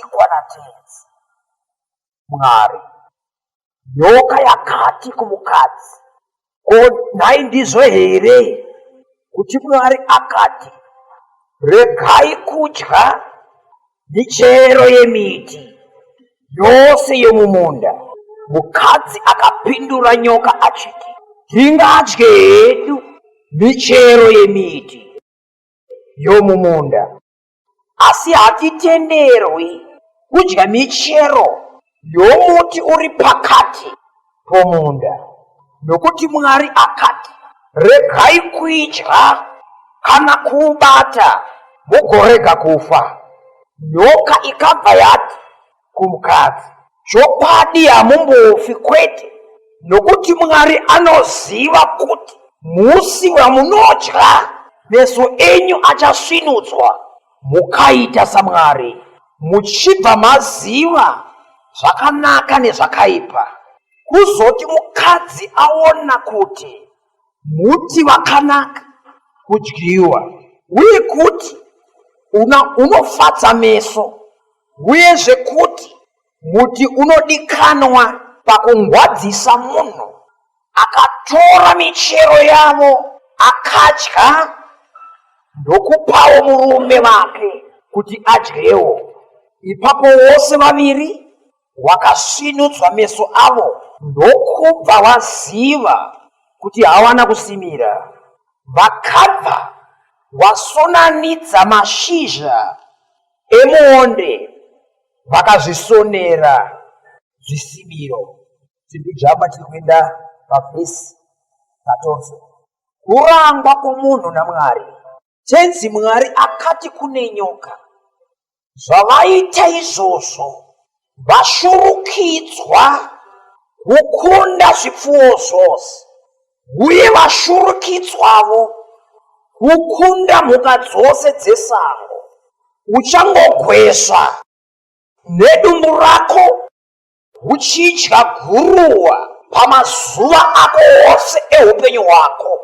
Tikuwana tenzi. Mwari. Nyoka yakati kumukadzi. Ko nhai ndizvo here kuti Mwari akati regai kudya michero yemiti yose yomumunda? Mukadzi akapindura nyoka achiti tingadye hedu michero yemiti yomumunda. asi hatitenderwi kudya michero yomuti uri pakati pomunda, nokuti Mwari akati, Regai kuidya kana kuubata, mugorega kufa. Nyoka ikabva yati, kumukadzi. Chokwadi hamumbofi kwete, nokuti Mwari anoziva kuti musi wamunodya meso enyu achasvinudzwa, mukaita saMwari, muchibva maziva zvakanaka nezvakaipa. Kuzoti mukadzi aona kuti muti wakanaka kudyiwa uye kuti unofadza meso Uyezve kuti muti unodikanwa pakungwadzisa munhu akatora michero yavo akadya ndokupawo murume vake kuti adyewo. Ipapo vose vaviri wakasvinudzwa meso avo ndokubva vaziva kuti hawana kusimira. Vakabva vasonanidza mashizha emuonde vakazvisonera zvisimiro zvekujamba tiri kuenda pavhesi patonso kurangwa kwomunhu namwari tenzi mwari akati kune nyoka zvavaita izvozvo vashurukidzwa kukunda zvipfuwo zvose uye vashurukidzwavo kukunda mhuka dzose dzesango uchangogwesva nedumbu rako uchidya guruwa pamazuva ako ose eupenyu hwako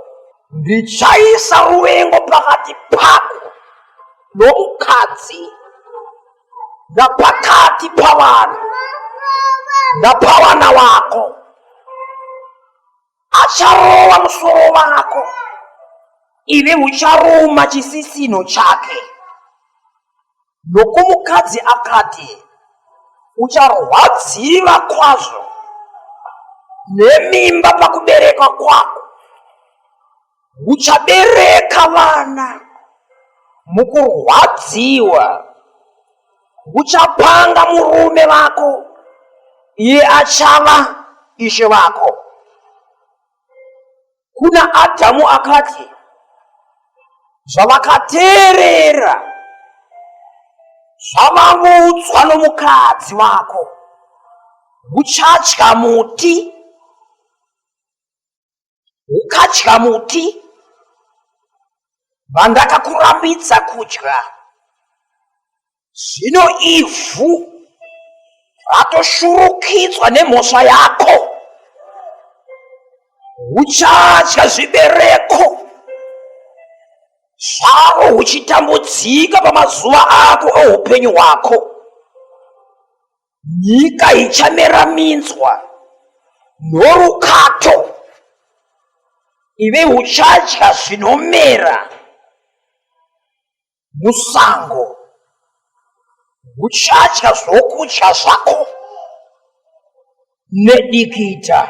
ndichaisa ruvengo pakati pako nomukadzi napakati pavanhu napawana wako acharova musoro wako ive ucharuma chisisino chake nokumukadzi akati ucharwadziva kwazvo nemimba pakuberekwa kwako Uchabereka vana mukurwadziwa, uchapanga murume vako, iye achava ishe vako. Kuna Adhamu akati, zvavakateerera zvavaudzwa nomukadzi wako, uchadya muti ukadya muti vandakakurambidza kudya zvino ivhu ratoshurukidzwa nemhosva yako uchadya zvibereko zvavo uchitambudzika pamazuva ako eupenyu hwako nyika ichamera minzwa norukato ive uchadya zvinomera musango uchadya zvokudya zvako nedikita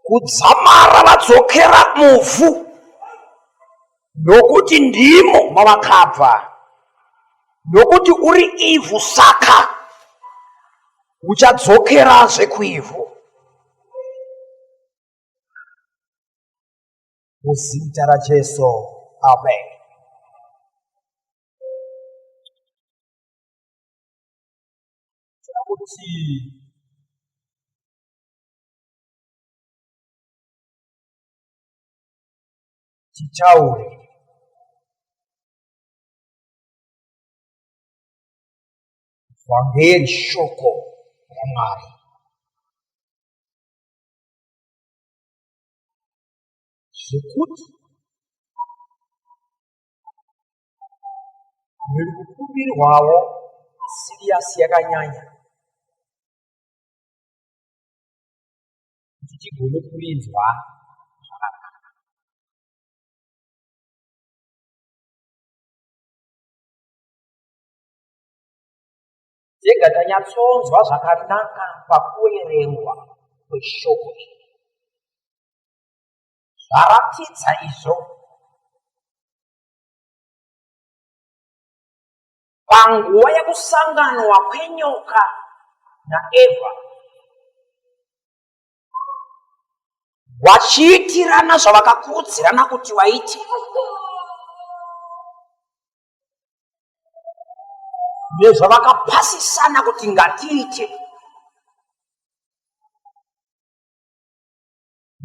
kudzamara vadzokera muvhu nokuti ndimo mavakabva nokuti uri ivhu saka uchadzokerazve kuivhu muzita rajesu amen kuti tichaure vhangeri shoko ramwari zvekuti riri kukumbirwawo siriyasi yakanyanya kuti tigone kurinzwa tega tanyatsonzwa zvakanaka pakuerengwa kweshoko iri zvaratidza izvo panguva yekusanganwa kwenyoka naeva vachiitirana zvavakakurudzirana kuti vaite nezvavakapasisana kuti ngatiite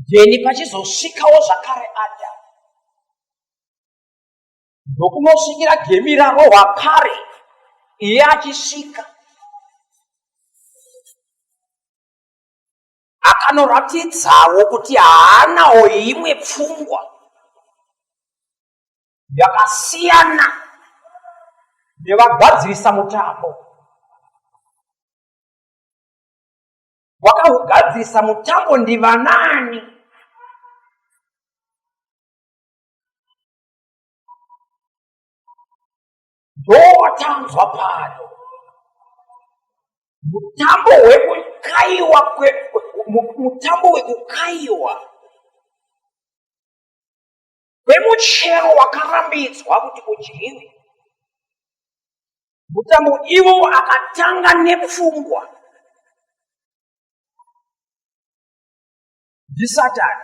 then pachizosvikawo zvakare adamu ndokunosvikira gemi rarohwa kare iye achisvika akanoratidzawo kuti haanawo imwe pfungwa yakasiyana nevagadzirisa mutambo wakaugadzirisa mutambo ndivanani ndowatanzwa pano mutambo wekukaiwa mutambo wekukaiwa kwemuchero wakarambidzwa kuti udyiwe mutambo ivo akatanga nepfungwa ndisatani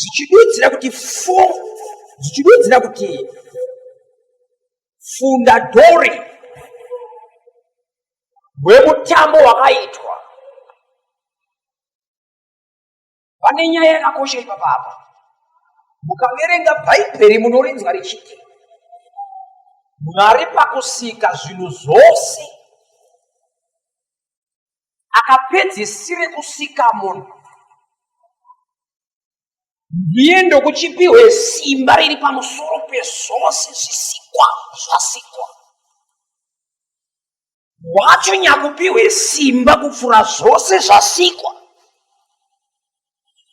dzichidudzira kuti fo dzichidudzira kuti fundadori hwemutambo wakaitwa pane nyaya yakakosha ipapa apa mukaverenga bhaibheri munorinzwa richiti mwari pakusika zvinhu zvose akapedzisire kusika munhu ndiye ndokuchipihwe simba riri pamusoro pezvose zvisikwa zvasikwa wacho nyakupihwe simba kupfuura zvose zvasikwa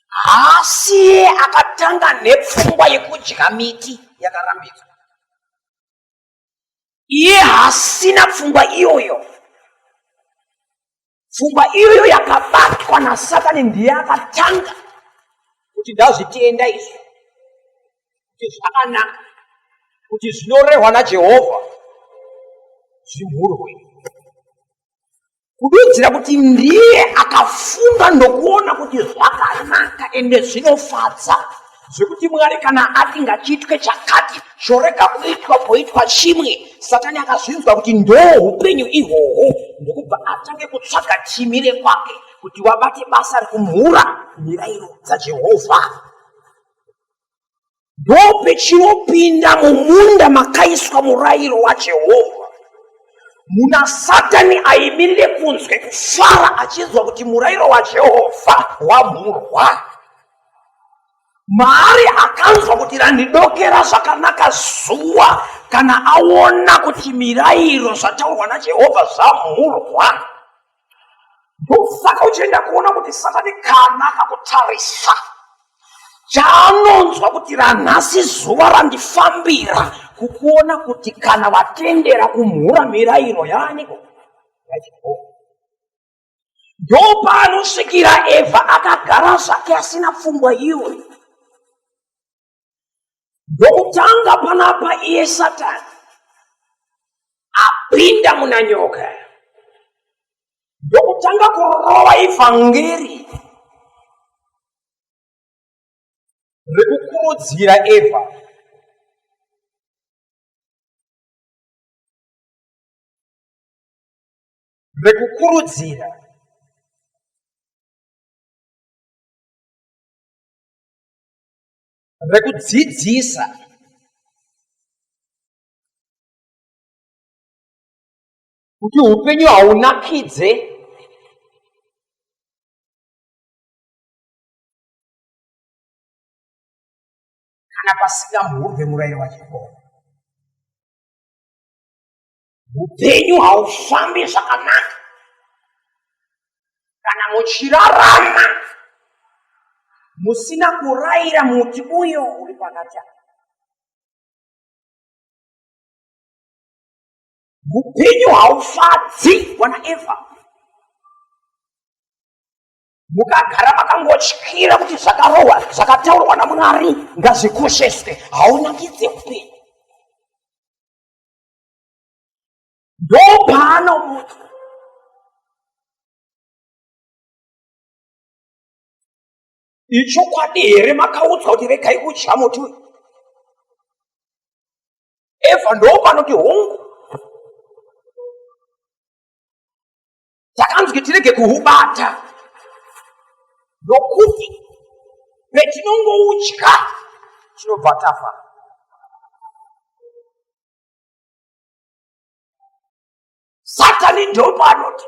haasiye akatanga nepfungwa yekudya miti yakarambidzwa iye haasina pfungwa iyoyo pfungwa iyoyo yakabatwa nasatani ndiye akatanga kuti ndazvitenda izvi kuti zvakanaka kuti zvinorehwa najehovha zvimhurwe kududzira kuti ndiye akafunga ndokuona kuti zvakanaka ende zvinofadza zvekuti mwari kana ati ngachitwe chakati chorega kuitwa poitwa chimwe satani akazvinzwa kuti ndo upenyu ihwohwo ndokubva atange kutsvaga timi rekwake kuti wabate basa rekumhura mirairo dzajehovha ndope chinopinda mumunda makaiswa murayiro wajehovha munasatani aimirire kunzwe kufara achinzwa kuti murayiro wajehovha wamhurwa maari akanzwa kuti randidokera zvakanaka zuva kana aona kuti mirayiro zvataurwa najehovha zvamhurwa ndosaka uchienda kuona kuti satani kana akakutarisa chaanonzwa kuti ranhasi zuva randifambira kukuona kuti kana vatendera kumhura mirayiro yaaniko yajehova ndopanosvikira evha akagara zvake asina pfungwa iwe ndokutanga panapa iye satani apinda muna nyoka ndokutanga kurova ivhangeri rekukurudzira eva rekukurudzira rekudzidzisa kuti upenyu haunakidze kana pasingamhurwe murayiro waJehovha. upenyu haufambi zvakanaka kana muchirarama musina kuraira muti uyo uri pakati aa upenyu haufadzi wana eva mukagara makangotyira kuti zvakarohwa zvakataurwa namwari ngazvikosheswe haunakidze upenyu ndopaanomuti ichokwadi here makaudzwa kuti regai kudya muti uyu eva ndopanoti hongu takanzwi tirege kuhubata nokuti petinongoutya tinobva tafa satani ndopa anoti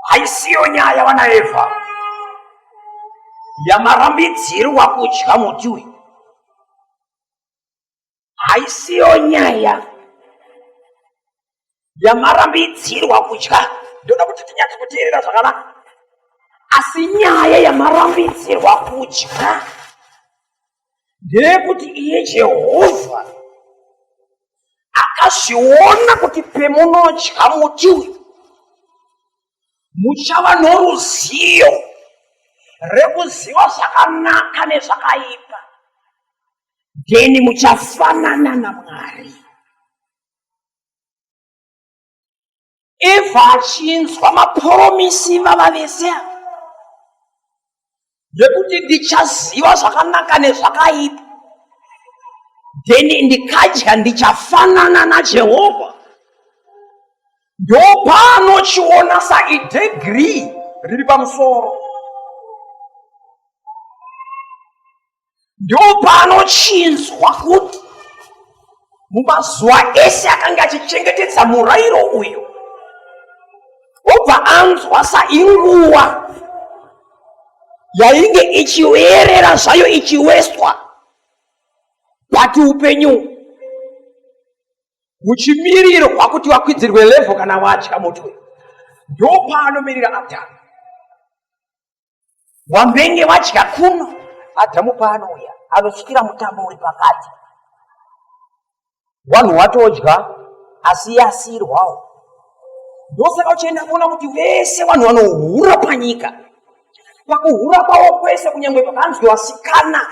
haisiyo nyaya vana evha yamarambidzirwa kudya muti uyu haisiyo nyaya yamarambidzirwa kutya ndoda kuti tinyatso kuteerera zvakanaka asi nyaya yamarambidzirwa kutya ndeyekuti iye jehovha akazviona kuti pemunotya muti uyu muchava noruzivo rekuziva zvakanaka nezvakaipa then muchafanana namwari evha achinzwa maporomisi vava vese ava zvekuti ndichaziva zvakanaka nezvakaipa then ndikadya ndichafanana najehovha ndopaanochiona saidegri riri pamusoro ndopanochinzwa kuti mumazuva ese akange achichengetedza murairo uyu obva anzwa sainguva yainge ichiverera zvayo ichiweswa bati upenyu huchimirirwa kuti vakwidzirwe levho kana vatya mutwe ndopaanomiririra adhamu wambenge wadya kuno adhamu paanouya anosvikira mutambo uri pakati wanhu watodya asi iye asiirwawo ndosaka uchienda kuona kuti vese vanhu vanohura panyika pakuhura kwavo kwese kunyange pakanzwi vasikana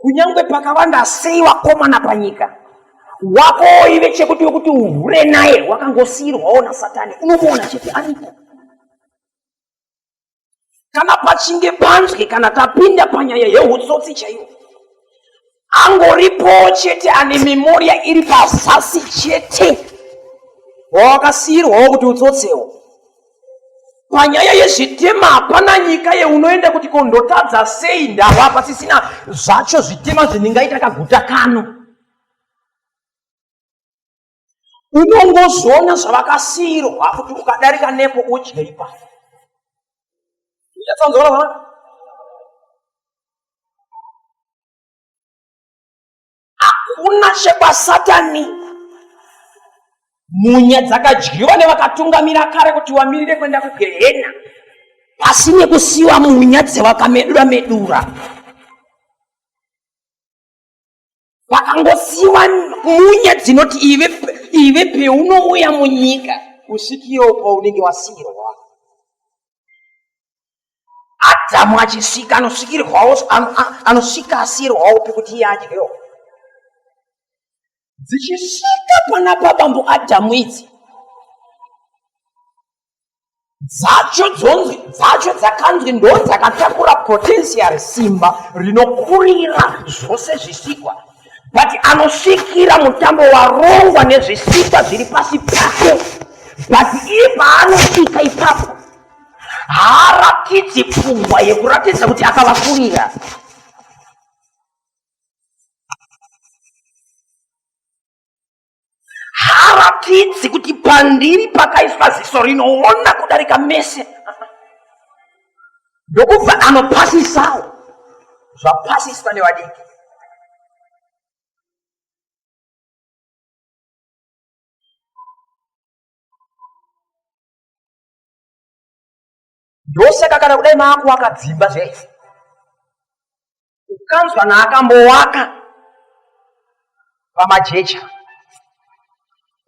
kunyange pakavanda sei vakomana panyika wako ive chekuti wekuti uhure naye wakangosiirwawo nasatani unomuona chete aripo kana pachinge panzwe kana tapinda panyaya yeutsotsi chaiwo angoripowo chete ane memoria iri pazasi chete wawakasiyirwawo kuti utsotsewo panyaya yezvitema hapana nyika yeunoenda kuti kondotadza sei ndava pasisina zvacho zvitema zvendingaita kaguta kano unongozoona zvavakasiirwa kuti ukadarika nepo udye ipapo uchatsanzora vana hakuna chekwasatani munya dzakadyiwa nevakatungamira kare kuti wamirire kuenda kugehena pasi nekusiwa munya dzewakamedura medura, medura. vakangosiwa munya dzinoti ive ive peunouya munyika usikiwo kwaunenge wasiyirwa adhamu achisika anosikirwawo anosika asiyirwawo pekuti iye adyewo dzichisika pana pabambo adhamu idzi dzacho dzonzi dzacho dzakanzi ndo dzakatakura potential simba rinokurira zvose zvisikwa but anosvikira mutambo warongwa nezvisikwa zviri pasi pake but iye paanosvika ipapo haaratidzi pfungwa yekuratidza kuti akavakurira haratidzi kuti pandiri pakaiswa ziso rinoona kudarika mese ndokubva anopasisawo zvapasiswa nevadiki ndosaka kana kudai maakuvaka dzimba zvese ukanzwa naakambowaka pamajecha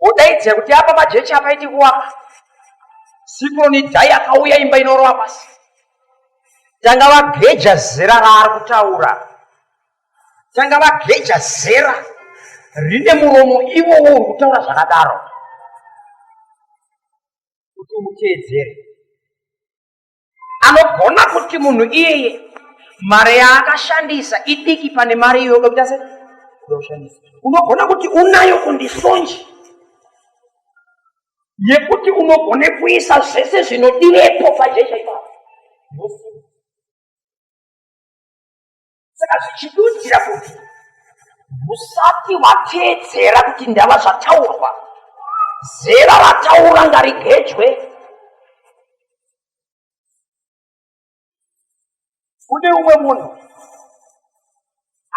wodaidza kuti apa majecha apaiti kuvaka sikroni dai akauya imba inorova pasi tanga vageja zera raari kutaura tanga vageja zera rine muromo iwowo uri kutaura zvakadaro kuti umuteedzere anogona kuti munhu iyeye mari yaakashandisa idiki pane mari iyo unokuita se unoshandisa unogona kuti unayo kundisonji yekuti unogone kuisa zvese zvinodirepo pajecha ipapo saka zvichidudzira kuti usati wateedzera kuti ndava zvataurwa zera rataura ngarigejwe kune umwe munhu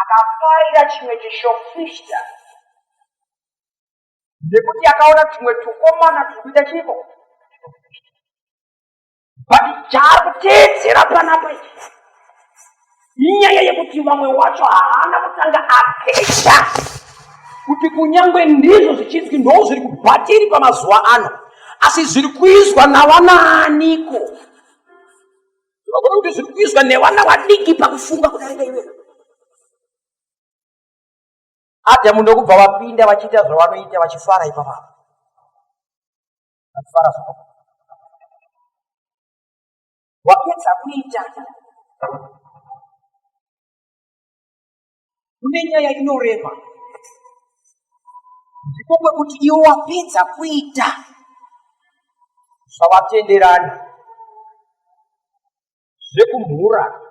akafarira chimwe chishofishta nekuti akaona tumwe tukomana turi kuita chiiko but chaari kuteedzera panapa inyaya yekuti vamwe wacho haana kutanga apedza kuti kunyange ndizvo zvichinzi ndoo zviri kubhatiri pamazuva ano asi zviri kuizwa navanaaniko vakona kuti zviri kuizwa nevana vadiki pakufunga kudarika iwena adhamu ndokubva vapinda vachiita zvavanoita vachifara ipapapa Ndakufara zvako. Wapedza kuita. Kune nyaya inorema. Ndiko kwekuti iwe wapedza kuita. Zvawatenderana. zvekumhura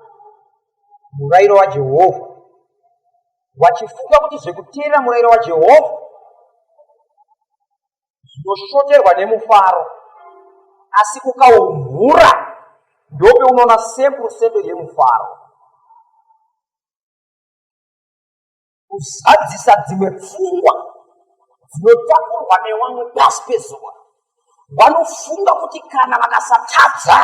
murairo wajehovha vachifunga kuti zvekuteerera murairo wajehovha zvinoshoterwa nemufaro asi ukaumhura ndope unoona sempurusendo yemufaro kuzadzisa dzimwe pfungwa dzinotakurwa nevamwe pasi pezuva vanofunga kuti kana vakasatadza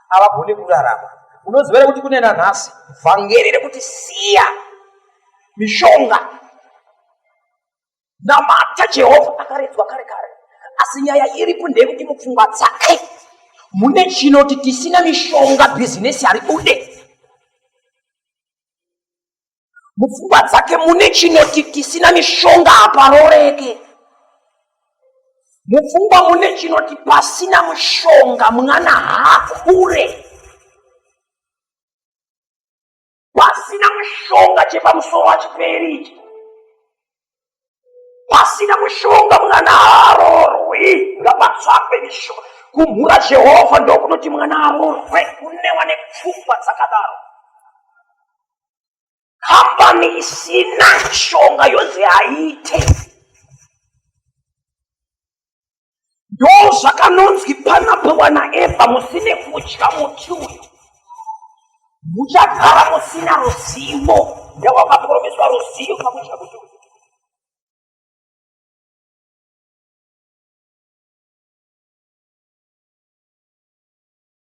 havagone kurarama unoziva here kuti kune nanhasi vhangeri rekuti siya mishonga namata jehovha akaredzwa kare kare asi nyaya iripo ndeyekuti mupfungwa dzake mune chinoti tisina mishonga bhizinesi haribude mupfungwa dzake mune chinoti tisina mishonga haparoreke mupfungwa mune chinoti pasina mushonga mwana haakure pasina mushonga chepamusoro achiperi ichi pasina mushonga mwana arorwi ngapatsvakwe mishonga kumhura jehovha ndokunoti mwana arorwe kunewa nepfungwa dzakadaro kambani isina mishonga yonzi haite ndozvakanonzwi panapiwa naeva musine kudya muti uyu muchagara musina ruzivo ndewakaporomeswa ruzivo pakudya muti uyu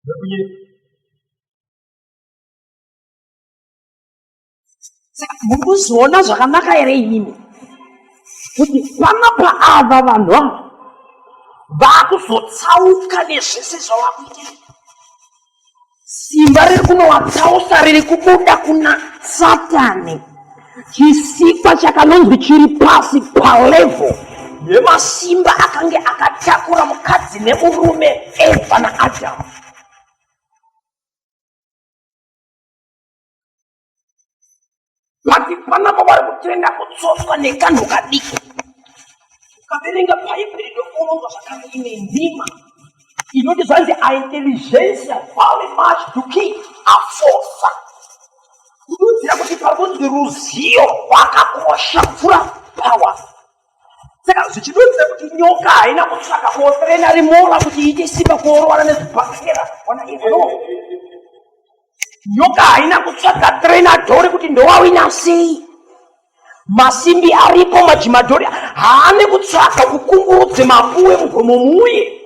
Thank you. saka muri kuzviona zvakanaka here imimi kuti panapa ava vanhu ava vaakuzotsauka nezvese zvavakuita simba riri kunovatsausa riri kubuda kuna satani chisikwa chakanonzi chiri pasi palevo yemasimba akange akatakura mukadzi nemurume eva naadhamu vati panapa vari kutenda kutsoswa nekanhu kadiki ukaverenga bhaibheri ndokuronga zvakare ine nzima inoti zvanzi aintelligencia vale much to king afosa kududzira kuti pakunzi ruzivo rwakakosha pfura power saka zvichidudzira kuti nyoka haina kutsvaka kuoferena rimora kuti iite simba kuorovana nezvibhakera ona izvo nyoka haina kutsvaga trenadhori kuti ndowawina sei masimbi aripo majimadhori haane kutsvaga kukungurudze mapuwe mugomo muye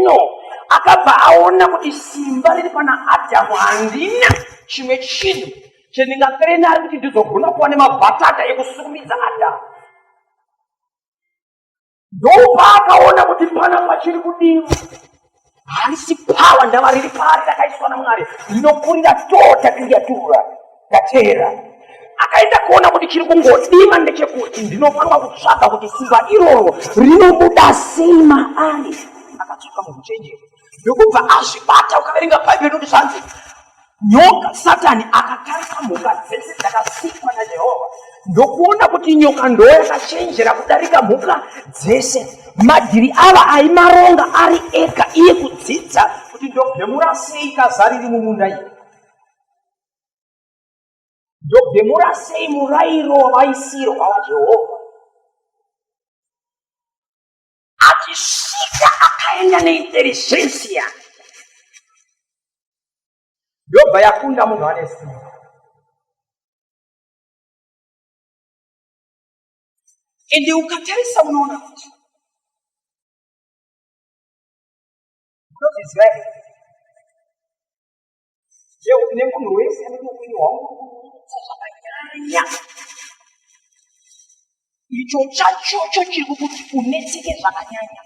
no akabva aona kuti simba riri pana adhamu handina chimwe chinhu chendingatrenari kuti ndizogona kuva nemabhatata ekusukumidza adhamu ndopaakaona kuti pana pachiri kudiwa hanisi pawa ndava riri pari rakaiswa namwari rinokurira tota tingatura tateera akaenda kuona kuti chiri kungodiwa ndechekuti ndinofanira kutsvaga kuti simba iroro rinobuda sima ari akatsvaka mukuchenjera ndokubva azvibata ukaverenga bhaibheri nokuti zvanzi nyoka satani akatarisa mhuka dzese dzakasikwa najehovha ndokuona kuti nyoka ndoyakachenjera kudarika mhuka dzese madhiri ava aimaronga ari ega iye kudzidza kuti ndobhemura sei kaza riri mumunda iyi ndobhemura sei murairo wavaisirwa wajehovha achisvika akaenda neintelligensia yobva yakunda munhu ane simba ende ukatarisa unoona kuti Yeuka nemunhu wese anenge upenyu hwangu kurusa zvakanyanya. Icho chachocho chiri kukuti unetseke zvakanyanya.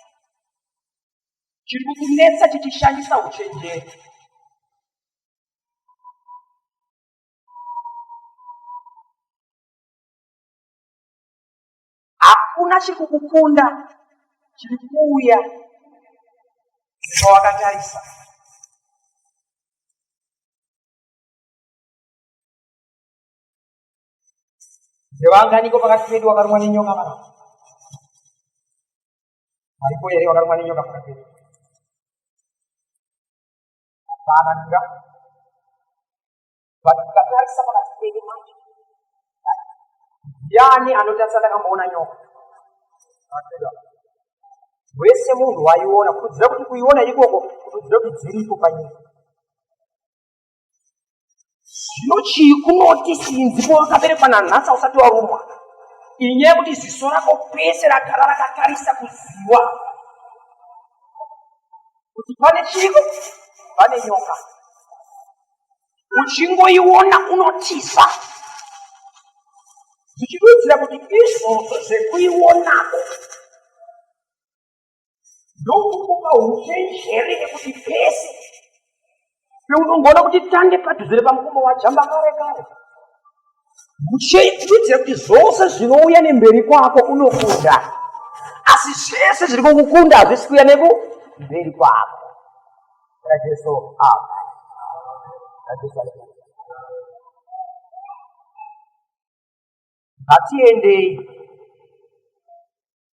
Chiri kukunetsa chichishandisa uchenjeri. hakuna chiri kukukunda chiri kuuya zvawakatarisa ndevanganiko pakati pedu wakarumwa nenyoka mana aripo here wakarumwa nenyoka pakati pedu hapana ndinga but tikatarisa pakati pedu manje yani anotarisa ndakamboona nyoka wese munhu waiona kutudzira kuti kuiona ikoko kutudzira kuti dziriko panyika zvino chii kunoti sinzi powakaberekwa nanhasi ausati warumwa inyaya yekuti ziso rako pese ragara rakatarisa kuziwa kuti pane chiko pane nyoka uchingoiona unotiza zvichidudzira kuti izvozvo zvekuionako ndokukupa uchenjeri nekuti pese peunongoona kuti tange padhuze repamukombo wajamba kare kare kuitira kuti zvose zvinouya nemberi kwako unokunda asi zvese zviri kukukunda hazvisi kuya neku mberi kwako rajesu apa rajesu aa ngatiendei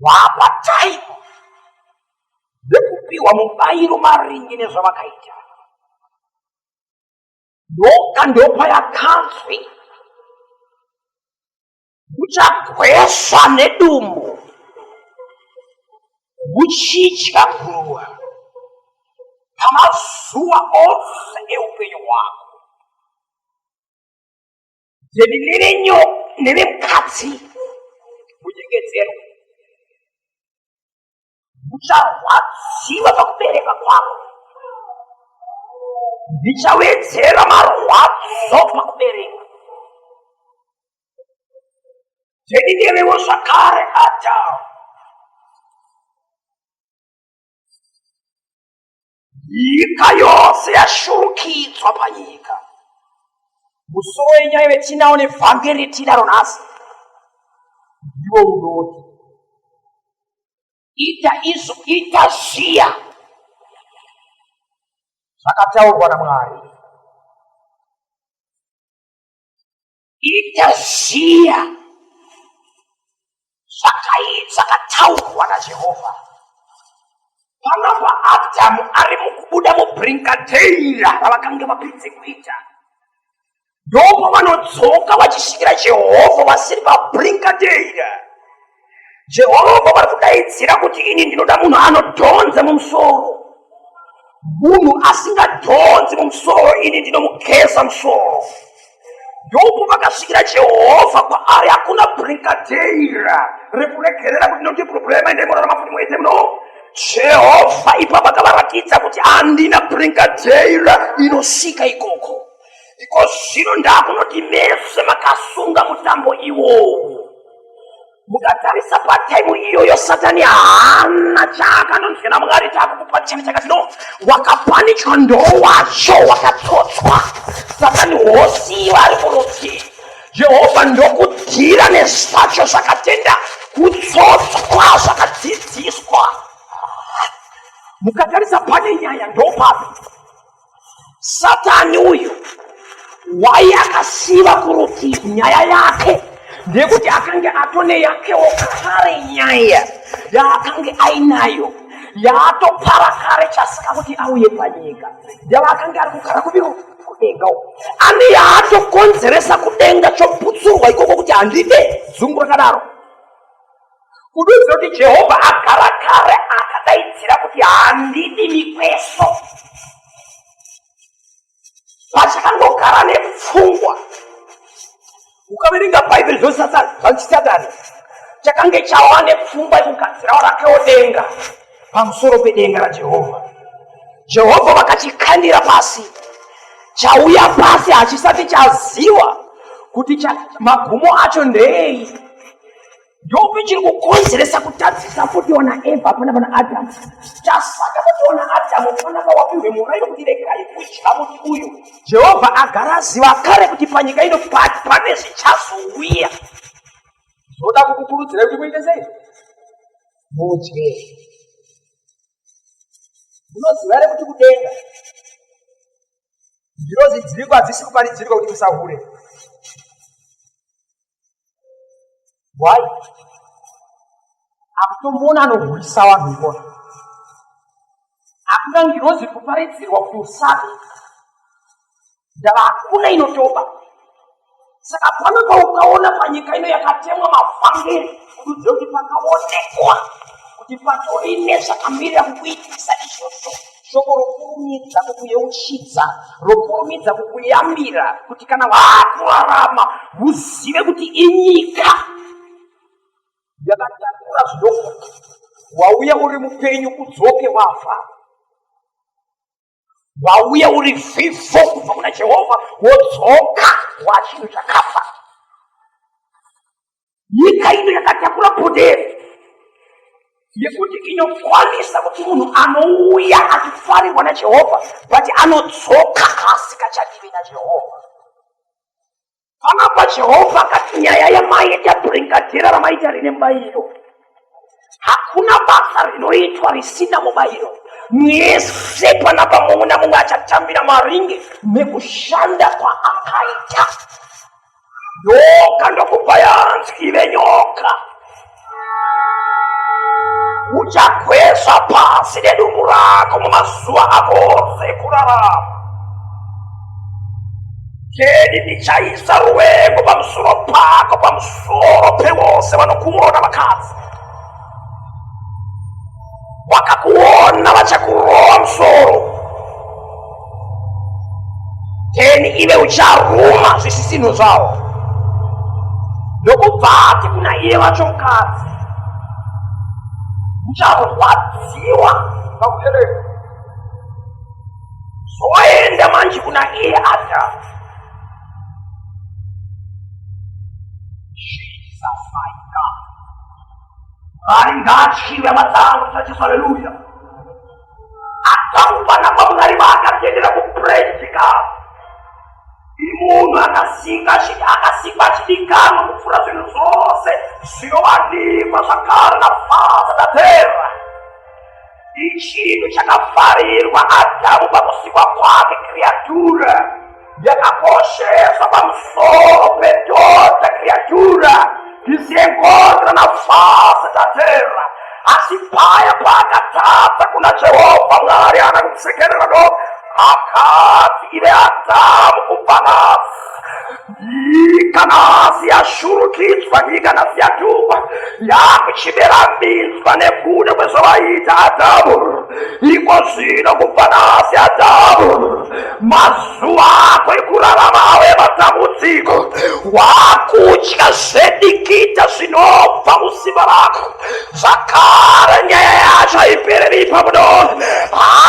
Gwapa chaiko vekupiwa mubairo maringe nezvavakaita ndoka ndopa yakanzwi kuchagwesha nedumbu kuchidya guruva pamazuva ose eupenyu hwako zvedi nevenyo nevemukadzi kunyengedzerwa ucharwadziwa pakubereka kwako ndichawedzera marwadzo pakubereka zvedi nevewo zvakare adamu nyika yose yashurukidzwa panyika musoro wenyaya vetinawo nevhangeri tinaro nhasi ndiwo unoti ita izvo ita zviya zvakataurwa namwari Ita ziya zvakataurwa naJehovha. Panapa Adhamu ari mukubuda mubrinkadeira ravakange vapedze kuita. Ndipo vanodzoka vachisvikira Jehovha vasiri pabrinkadeira. Jehovha vari kudaidzira kuti ini ndinoda munhu anodhonza mumusoro. Munhu asingadhonzi mumusoro ini ndinomugeza musoro. Yobu vakasvikira Jehovha kwaari hakuna brinkadeira rekuregerera kuti ndoti problema ende morarama kuti muite muno. Jehovha ipapo akavaratidza kuti handina brinkadeira inosvika ikoko. Iko zvino ndakunoti mese makasunga mutambo iwowo. Mukatarisa pataimu iyoyo Satani haana chaakanonzwa naMwari taakukupa chimwe chakati no wakapanikwa ndowacho wakatsotswa Satani hosi vari kuruti Jehovha ndokudhira nezvacho zvakatenda kutsotswa zvakadzidziswa mukatarisa pane nyaya ndopapi satani uyu wai akasiva kurutivi nyaya yake ndekuti akange atone yakewo kare nyaya yaakange ainayo yaatopara kare chasika kuti auye panyika yavaakange ari kugara kuviro kudenga uko ane yaatokonzeresa kudenga choputsurwa ikoko kuti handide zungu rakadaro kudoziva kuti jehovha agara kare akadaidzira kuti handidi mikweso pachakangogara nepfungwa ukaverenga bhaibheri zvosatani chakange chawa nepfungwa yekugadzirawo rakewo denga pamusoro pedenga rajehovha jehovha vakachikandira pasi chauya pasi hachisati chaziwa kuti magumo acho ndeei ndopi chiri kukonzeresa kutadzisa futi ona eva pana pana adamu chasaka kuti ona adamu panaka wapihwe murairo kuti regai kudya muti uyu jehovha agara aziva kare kuti panyika ino pane zvichazouya zvoda kukukurudzira kuti muite sei mudye munoziva here kuti kudenga ndiro zidziriko hadzisi kuparidzirwa kuti musahure why akutomboona anohurisa vanhu ikona hakuna ngirozi kuparidzirwa kuti usabe ndava hakuna inotoba saka pano paukaona panyika ino yakatemwa mafangeri kududzira kuti pakaonekwa kuti patori nezvakamirira kukuitisa izvozvo shoko rokurumidza kukuyeuchidza rokurumidza kukuyambira kuti kana waakurarama muzive kuti inyika yakatakura zvidoko wauya uri mupenyu udzoke wafa wauya uri vhivho kubva kuna jehovha wodzoka wachinhu chakafa nyika ino yakatakura podheri yekuti inokwanisa kuti munhu anouya achifarirwa najehovha but anodzoka asika chadivi najehovha panapa jehovha akati nyaya yamaita bringadhera ramaita rine mubayiro hakuna basa rinoitwa risina mubayiro mwese panapa mumwe namumwe achatambira maringe nekushanda kwaakaita nyoka ndokupa yanzi ive nyoka uchagwesva pasi nedumbu rako mumazuva ako ose ekurarama keni ndichaisa ruvengo pamusoro pako pamusoro pevose vanokuona vakadzi wakakuona vachakurowa musoro then ive ucharuma zvisisino zvawo ndokubva ati kuna iye vacho mukadzi ucharwadziwa pakubereka zoenda manje kuna iye adha Mwari ngaatyiwe hama dzangu tisachisa haleluya. Akakupana kwaMwari vaakatendera kuprejika. Imunhu akasika achiti akasikwa achidikanwa kupfuura zvinhu zvose zvinowanikwa zvakare naFadza naTera. Ichinhu chakafarirwa Adhamu pakusikwa kwake, kriatura yakakosheswa pamusoro pedhodha, kriatura isengodra nafasa tatera asi paya paakatadza kuna Jehovha Mwari ana kusekerera do akati ive Adhamu kubva nasi Nyika nhasi yashurukidzwa, nyika nhasi yatukwa, yakuchibera minzwa nekuda kwezvavaita Adhamu. Iko zvino kubva nhasi Adhamu, mazuva ako ekurarama ave matambudziko, wakutya zvedikita zvinobva musimba rako. zvakare nyaya yacho haipereri ipapo do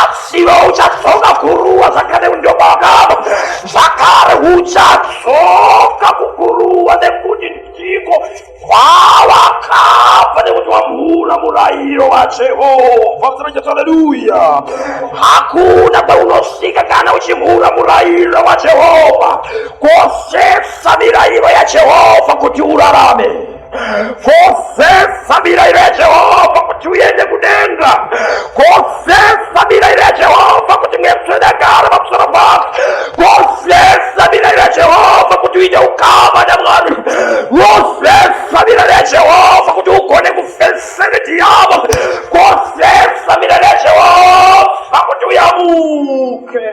asivo uchadzoka kuruwa zvakare undomakamo zvakare uchadzoka kukuruwa nekuti ndiko kwawakabva nekuti wamhura murayiro wajehovha msanajesu aleluya hakuna kwaunosvika kana uchimhura murayiro wajehovha kosesa mirayiro yajehovha kuti urarame Kosefa mira ira Jehovha kuti uende kudenga. Kosefa mira ira Jehovha kuti mwepfe dakara pamusoro pako. Kosefa mira ira Jehovha kuti uite ukama naMwari. Kosefa mira ira Jehovha kuti ugone kufesa nedhiyabho. Kosefa mira ira Jehovha kuti uyamuke.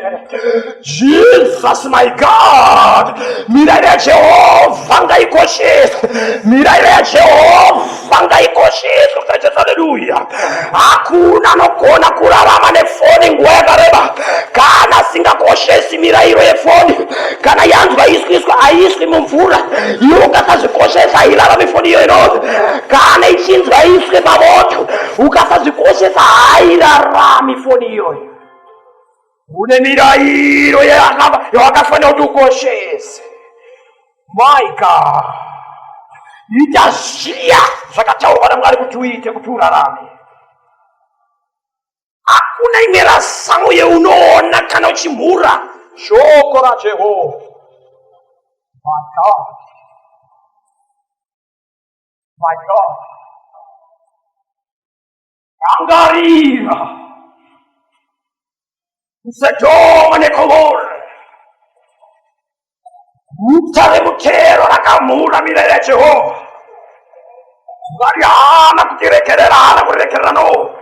Jesus my God, mirairo yaJehovha ngaikosheswe, mirairo yaJehovha ngaikosheswe kusaitesa. Haleluya! Hakuna anogona kurarama nefoni nguva yakareba kana asingakoshesi mirairo yefoni. Kana yanzwa iswiswa, haiswi mumvura, iwe ukasazvikoshesa hairarami foni iyo inonzi. Kana ichinzwa iswe pamoto, ukasazvikoshesa hairarami foni iyoyo. une mirairo yawakafanira kuti ukoshese my god ita zviya zvakataurwa namwari kuti uite kuti urarame hakuna imwe rasamo yeunoona kana uchimhura shoko rajehovha my god my god Rangarira kuSodhoma neGomora, guta remutero rakamhura mirayiro yaJehovha. Mwari haana kutiregerera, haana kuregerera no,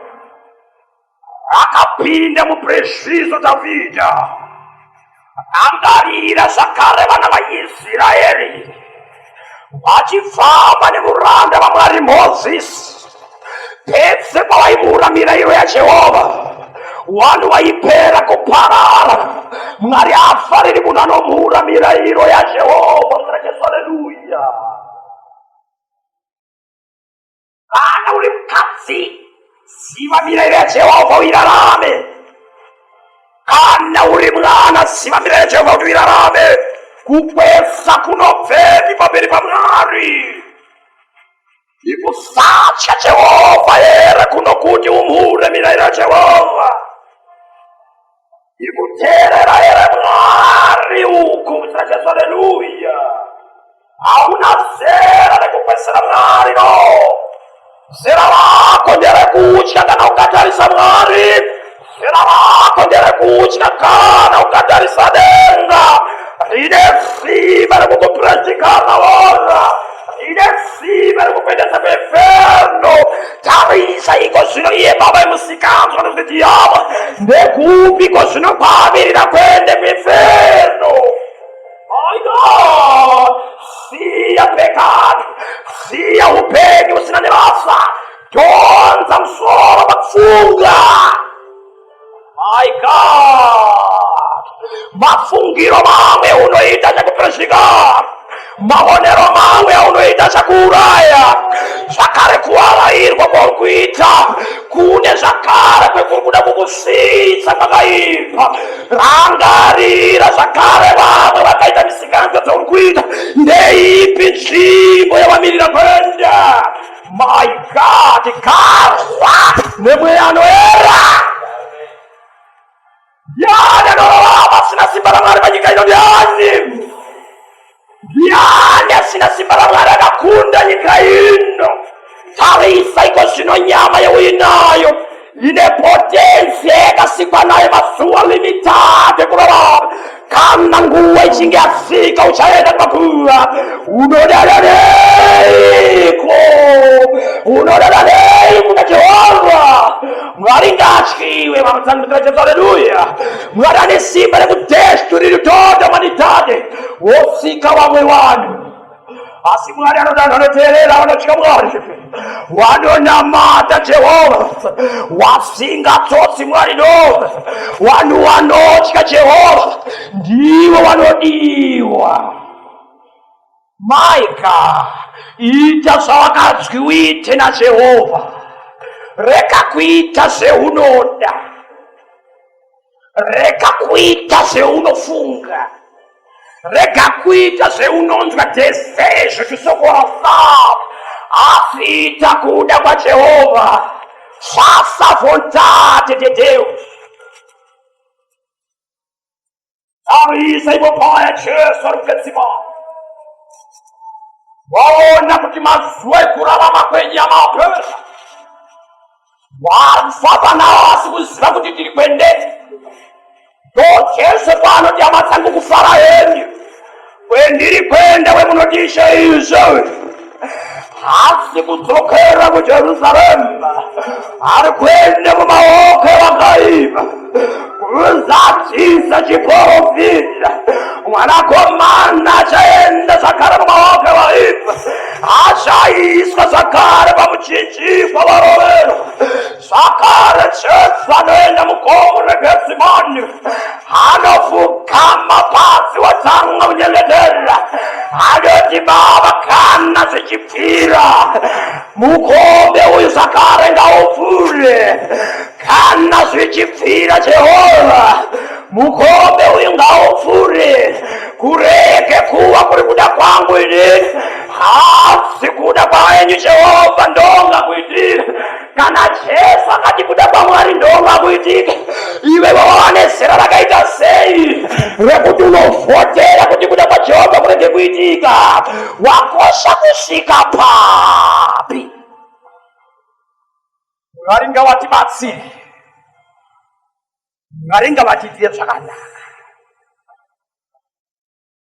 akapinda muprezvizo Dhavhidha Angarira zvakare vana vaIsraeri vachifamba nemuranda vaMwari Mozisi pese pavaimura mirayiro yaJehovha vanhu vaipera kuparara. Mwari haafariri munhu anomura mirayiro yaJehovha. Kana uri mukadzi, ziva mirayiro yaJehovha uirarame. Kana uri mwana, ziva mirayiro yaJehovha kuti uirarame. Kukwesa kunobvepi pamberi paMwari? Ikusatya Jehovha here kunokuti umhure mirayiro yaJehovha? ndikuteerera here mwari uku mutinajesu aleluya hauna zera rekupesera mwari no zera rako nderekutya kana ukatarisa mwari zera rako nderekutya kana ukatarisa denga rine simba rekukupurezikana wona rine simba rekupendesa pefeno Tarisa iko zvino iye baba emusikanzwa nekuti yavo ndekupi ko zvino kwaamirira kuende kuinferno aido siya pekani siya upenyu usina nebasa donza musoro pakufunga My God! Mafungiro mamwe unoita chakupesika. Maonero mamwe unoita chakuuraya. Zvakare kuarairwa kwauri kuita kune zvakare kwekuri kuda kukusvitsa kwakaipa. Rangarira zvakare vamwe vakaita misikanzwa dzauri kuita. Ndeipi nzvimbo yavamirira kuenda? My God, garwa nemweya anoera ndiani anorarama pasina simba ramwari panyika ino ndiani ndiani asina simba ramwari akakunda nyika ino tarisa iko zvino nyama yeuinayo ine potensi yakasikwa nayo mazuva limitatu ekurarama kana nguva ichinge yasvika uchaenda kumakuva unodadaneiko unodadaneiko kuna jehovha mwari ngaatyiwe vamutsandudzira jesu aleluya mwari ane simba rekudesturiri toto manitade wosika vamwe vanhu asi mwari anodanha anoteerera vanotya mwari wanonamata jehovha wasingatsotsi mwari no vanhu vanotya jehovha ndivo vanodiwa my god ita zvawakadzwi uite najehovha rega kuita zveunoda rega kuita zveunofunga rega kuita zveunonzwa dzese zvechisokora fab asi ita kuda kwajehovha sasa vontate dedeus anoisa ivo paya jesu ari kugadzima waona kuti mazuva ekurarama kwenyu amaoperesa wafamba nawo asi kuziva kuti tiri kwendei ndo jesu paanoti hama dzangu kufara henyu Kwendiri kwenda wemunotisha izvo hasi kudzokera kujerusarema ari kuenda mumaoko evakaipa kuzadzisa chiporofita mwanakomana achaenda zvakare mumaoko evaipa achaiswa zvakare pamuchinjikwa warovero Zvakare Jesu anoenda mugomo reGetsemani, anofugama pasi wotanga kunyengetera, anoti Baba, kana zvichipfira mukombe uyu zvakare ngaupfuure, kana zvichipfira Jehovha mukombe uyu ngaupfuure, kurege kuva kuri kuda kwangu ini, asi kuda kwenyu Jehovha ndonga kuitira kana jesu akati kuda kwamwari ndongakuitike iwe wawava nezera rakaita sei rekuti unovhotera kuti kuda kwajehovha kurege kuitika wakosha kusvika papi mwari ngawatibatsiri mwari ngavatiitire zvakanaka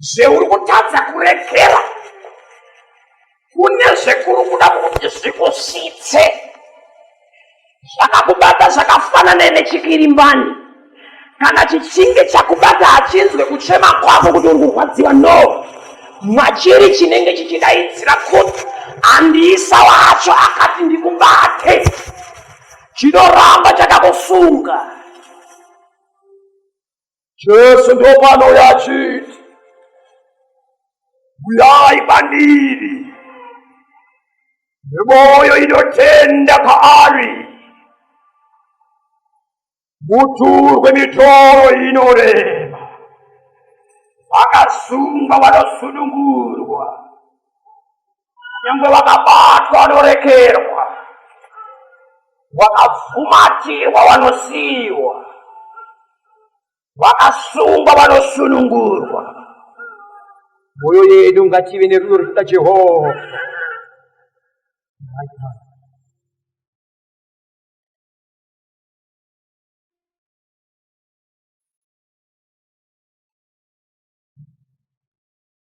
zveuri kutadza kuregera kune zvekuri kuda kuti zvikusvitse zvakakubata zvakafanana nechikirimbani kana chichinge chakubata hachinzwe kuchema kwako kuti uri kurwadziwa no machiri chinenge chichidaidzira kuti andiisa wacho akati ndikubate chinoramba chakakusunga Jesu ndopanouya achiti, Uyai kwandiri nemwoyo inotenda kwaari, muturwe mitoro inorema, vakasungwa vanosunungurwa, nyangwe vakabatwa vanorekerwa vakabvumatirwa vanosiyiwa vakasungwa vanosunungurwa mwoyo yedu ngative nerudo rekuda jehovha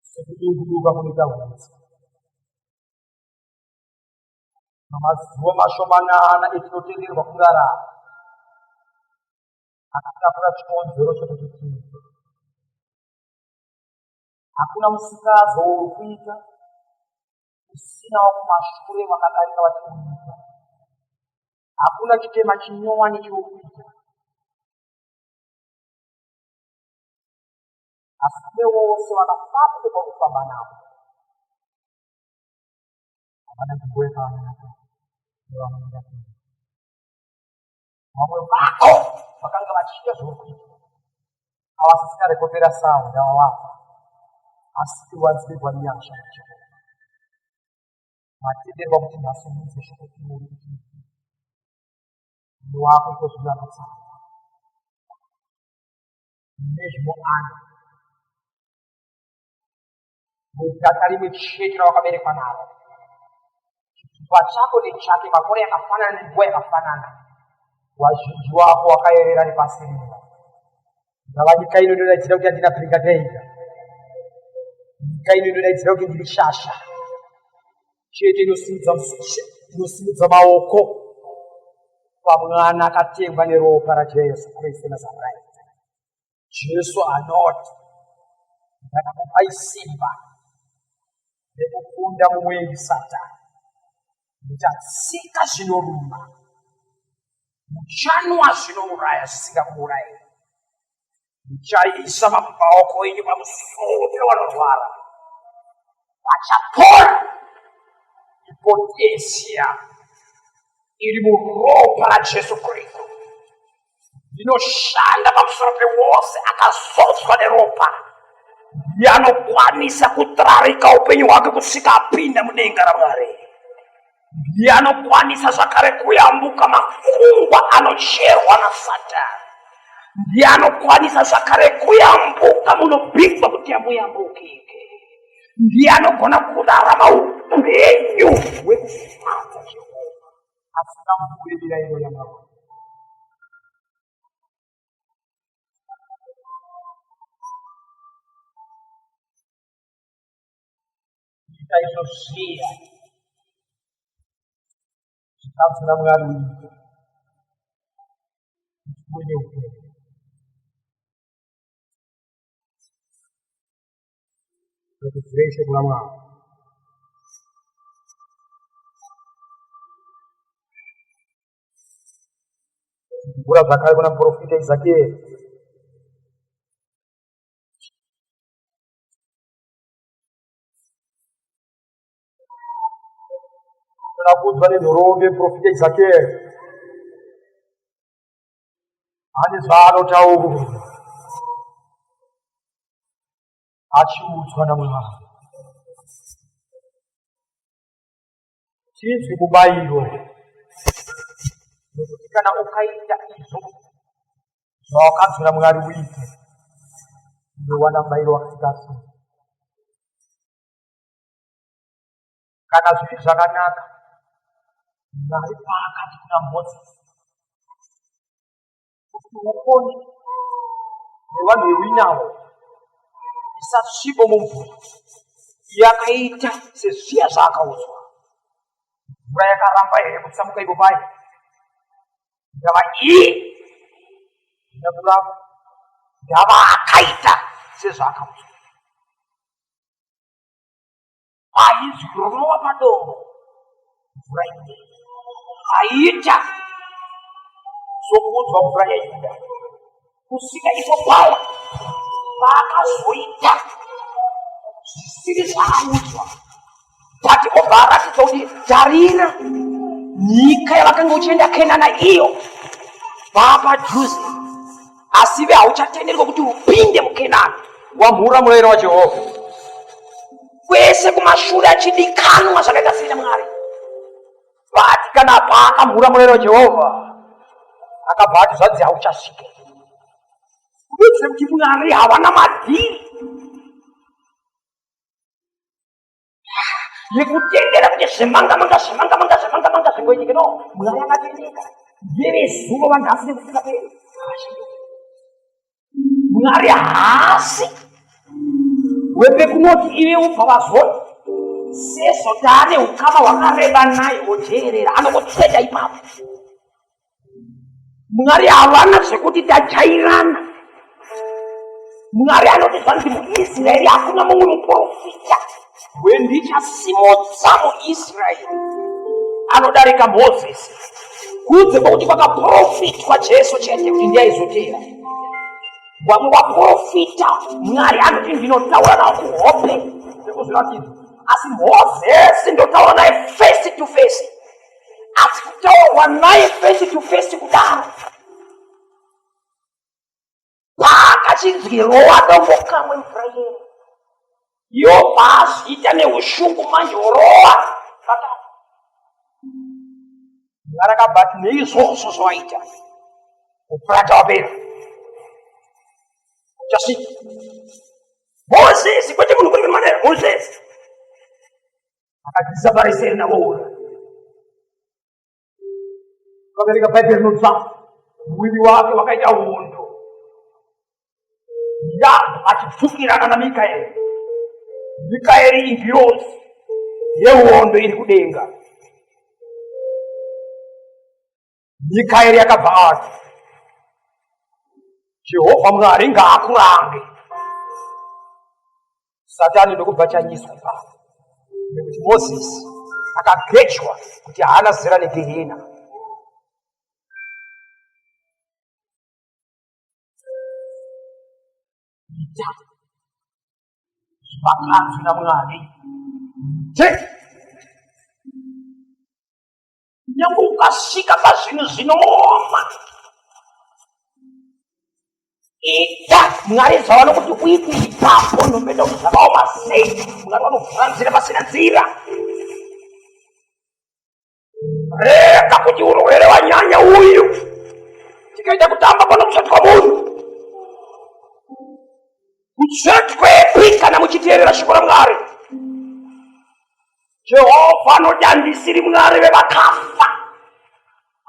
sekudukuduka kunoita hutsi mamazuva mashomanana etinotenderwa kurarama akatapura chikonzero chekuti tiite hakuna musikazo wokuita usina wakumashure vakadarika vachikuita hakuna chitema chinyowani chokuita asi kune vose vakafapo kwekufamba navo havana nzvimbo yekavamenaka nevamwenda vamwe vako vakanga vachiita zvokuita avasisina rekopera sawo ndavavafa asi tiwanzirwa nyasha yachikoro matenderwa kuti masimudze shoko iwori kuti wako ikozvino anotsara nezvinoana mudaka rimwe chete rawakaberekwa naro chitupa chako nechake makore yakafanana nenguva yakafanana wazhinji wako wakayerera nepasi rino ngava nyika ino inodaidzira kuti andina bringadeiga nyika ino inodaidzira kuti ndiri shasha chete inosimudza musishe inosimudza maoko pamwana akatengwa neropa rajesu kristu nazareta jesu anoti ndakakupai simba rekukunda mumwendi satani muchatsika zvinoruma muchanwa zvinouraya zvisingakuurayei ndichaisa maoko enyu pamusoro pevanorwara vachapora ipotesia iri muropa rajesu kristu ndinoshanda pamusoro pewose akazodzwa neropa yanokwanisa kutrarika upenyu hwake kusvika apinda mudenga ramwari ndiye anokwanisa zvakare kuyambuka makungwa anocherwa nasatani ndiye anokwanisa zvakare kuyambuka munopinzwa kuti amuyambukike ndiye anogona kurarama upenyu hwekufadza jehova asina kubudirira iyo yamaro ndikaizosvira chikafu namwari uite kuine upenyu kuti zveshe kuna mwari kugura zvakare kuna muprofita izakieri Nakudzwa nenhoroondo yeprofita Ezekiel ane zvaanotaura achiudzwa naMwari. chinzwi mubairo nekuti kana ukaita izvo zvawakadzvira mwari uite unowana mubairo wakaita so kana zviri zvakanaka mwari paakati kuna mozisi kuti upone nevanhu vewinawo isatsvibo mumvura yakaita sezviya zvaakaudzwa mvura yakaramba here kutsamuka ipo paye ndava iye ina kuramba ndava akaita sezvaakaudzwa aizwi rova padombo mvura ine aiita sokuudzwa mvura yaida kusika iko kwawa paakazoita zvisiri zvaaudzwa but obva aratidza kuti tarira nyika yavakanga uchienda kenana iyo vaapadhuze asi ive hauchatenderwa kuti upinde mukenani wamhura murayiro wajehovha kwese kumashure achidikanwa zvakaita sei namwari but kana paakamhura murayiro wajehovha akabva ati zvanzi hauchasvike kuitira kuti mwari havana madhiri nekutendera kuti zvemanga manga zvemanga manga zvemanga manga zvingoitike no mwari akatendeka verezuva vanhasi nekufika pe mwari haasi wepekunoti ive ubva vazoti sezvo taane ukama hwakareba naye woteerera anokotsveta ipapo mwari havana zvekuti tajairana mwari anoti zvanzi muisraeri hakuna mumwe muprofita wendichasimudza muisraeri anodarika mozisi kunze kwekuti kwakaprofitwa jesu chete kuti ndiaizotera vamwe vaprofita mwari anoti ndinotaura navo kuhope zvekuzviratidza asi mozisi ndotaura naye face to face asi kutaurwa naye face to face kudaro paakachinzwirowa dombo kamwe mvura yero yo paazviita neushungu manje orowa pakati ngarakabati neizvozvo zvawaita kupurata wapera uchasvika mozisi kwete munhu kuri kuri manera mozisi akatisabarisei navoona vabereka bhaibheri rinobva mwiri wake wakaita hondo yapo achipfukirana namikaeri mikaeri ingirozi yehondo iri kudenga Mikaeri yakabva ati, Jehovha Mwari ngaakurange. Satani ndokubva chanyiswa ipapo nekuti Mozisi akagejwa kuti haana zera negehena. Ita zvakanzi naMwari. Take nyange ukasvika pazvinhu zvinooma ita mwari zvavano kuti uiti ipapo nomenda kuti zvakaoma sei mwari vanovhura nzira pasina nzira rega kuti urwere wanyanya uyu tikaita kutamba panokushatwa munhu kutsvetwepi kana muchiteerera shoko ramwari jehovha anoti handisiri mwari vevakafa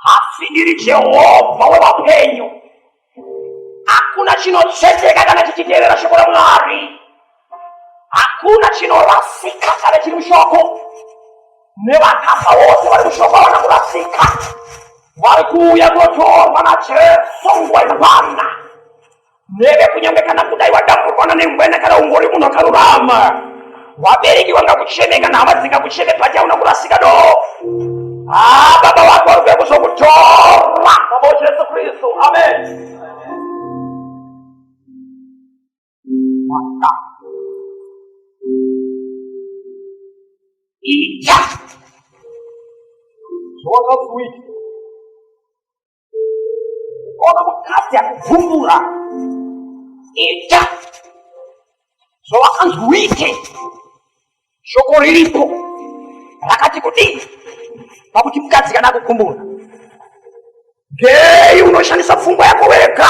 asi ndiri jehovha wevapenyu hakuna chinotsetseka kana chichiteerera shoko ramwari hakuna chinorasika kana chiri mushoko nevakafa vose vari mushoko havana kurasika vari kuuya kunotorwa najesu nguva inokwana Mureve kunyange kana kudai wadamburwana nengwena kana ungori munhu akarurama. Vabereki vanga kucheme kana hama dzinga kucheme pati hauna kurasika do. Ah, baba wako vari kuya kuzokutora. Baba Jesu Kristu. Amen. Mata. Ita. Zvawakazuita. Ona mukadzi akubvumbura. Ita. Zvawakanzi uite. Shoko riripo. Rakati kudii? Pakuti mukadzi kana akukumbura. Gei unoshandisa pfungwa yako wega.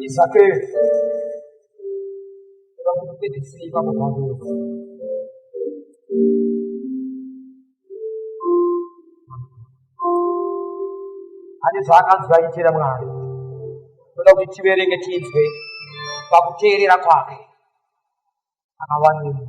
Isapere. Vamos ter que se ir para o ane zvaakanzwa achiitira mwari toda kuti tiverenge tinzwe pakuteerera kwake akawanei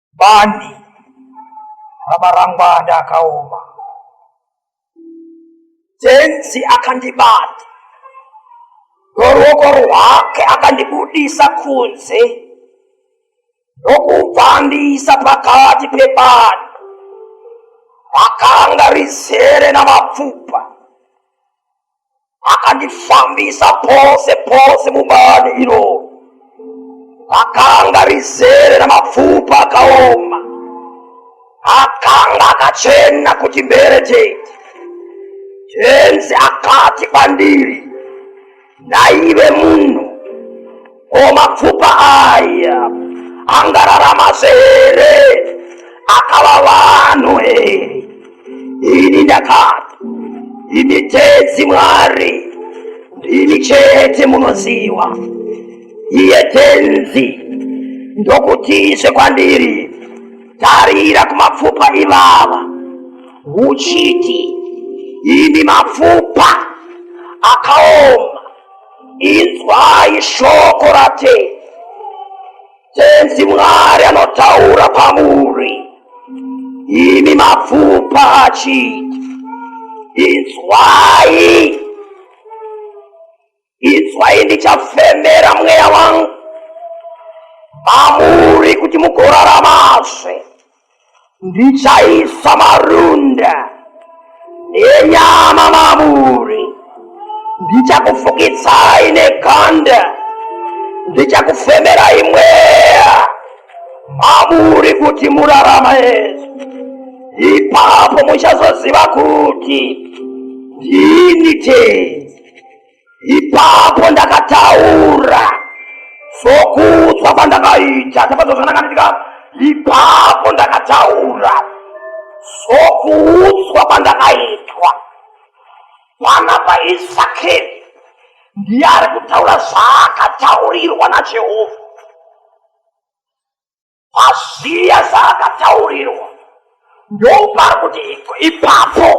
Bani ramarangwanda akaoma. Tenzi akandibata noruoko rwake akandibudisa kunze nokubva andiisa pakati pebani rakanga rizere namapfupa akandifambisa pose pose mubani iro akanga rizere ramapfupa akaoma akanga akachena kuti mbere chete chenzi akati kwandiri ndaive munhu O mapfupa aya angararama here akava vanhu here ini ndakati imi tedzi mwari ndimi chete munoziva iye tenzi ndokutizve kwandiri tarira kumapfupa ivava uchiti imi mapfupa akaoma Inzwai shoko raTenzi. Tenzi Mwari anotaura kwamuri, imi mapfupa achiti, inzwai, inzwai ndichafemera mweya wangu mamuri kuti mugoraramazve. ndichaisa marunda nenyama mamuri ndichakufukitsai nekanda ndichakufemerai mweya mamuri kuti murarama yesu ipapo muchazoziva kuti ndini tei ipapo ndakataura sokudzwa kwandakaita chapato zvandakaitika ipapo ndakataura sokuudzwa kwandakaitwa pana paisakeri ndiye ari kutaura zvaakataurirwa najehovha Paziya zvaakataurirwa ndopari kuti ipapo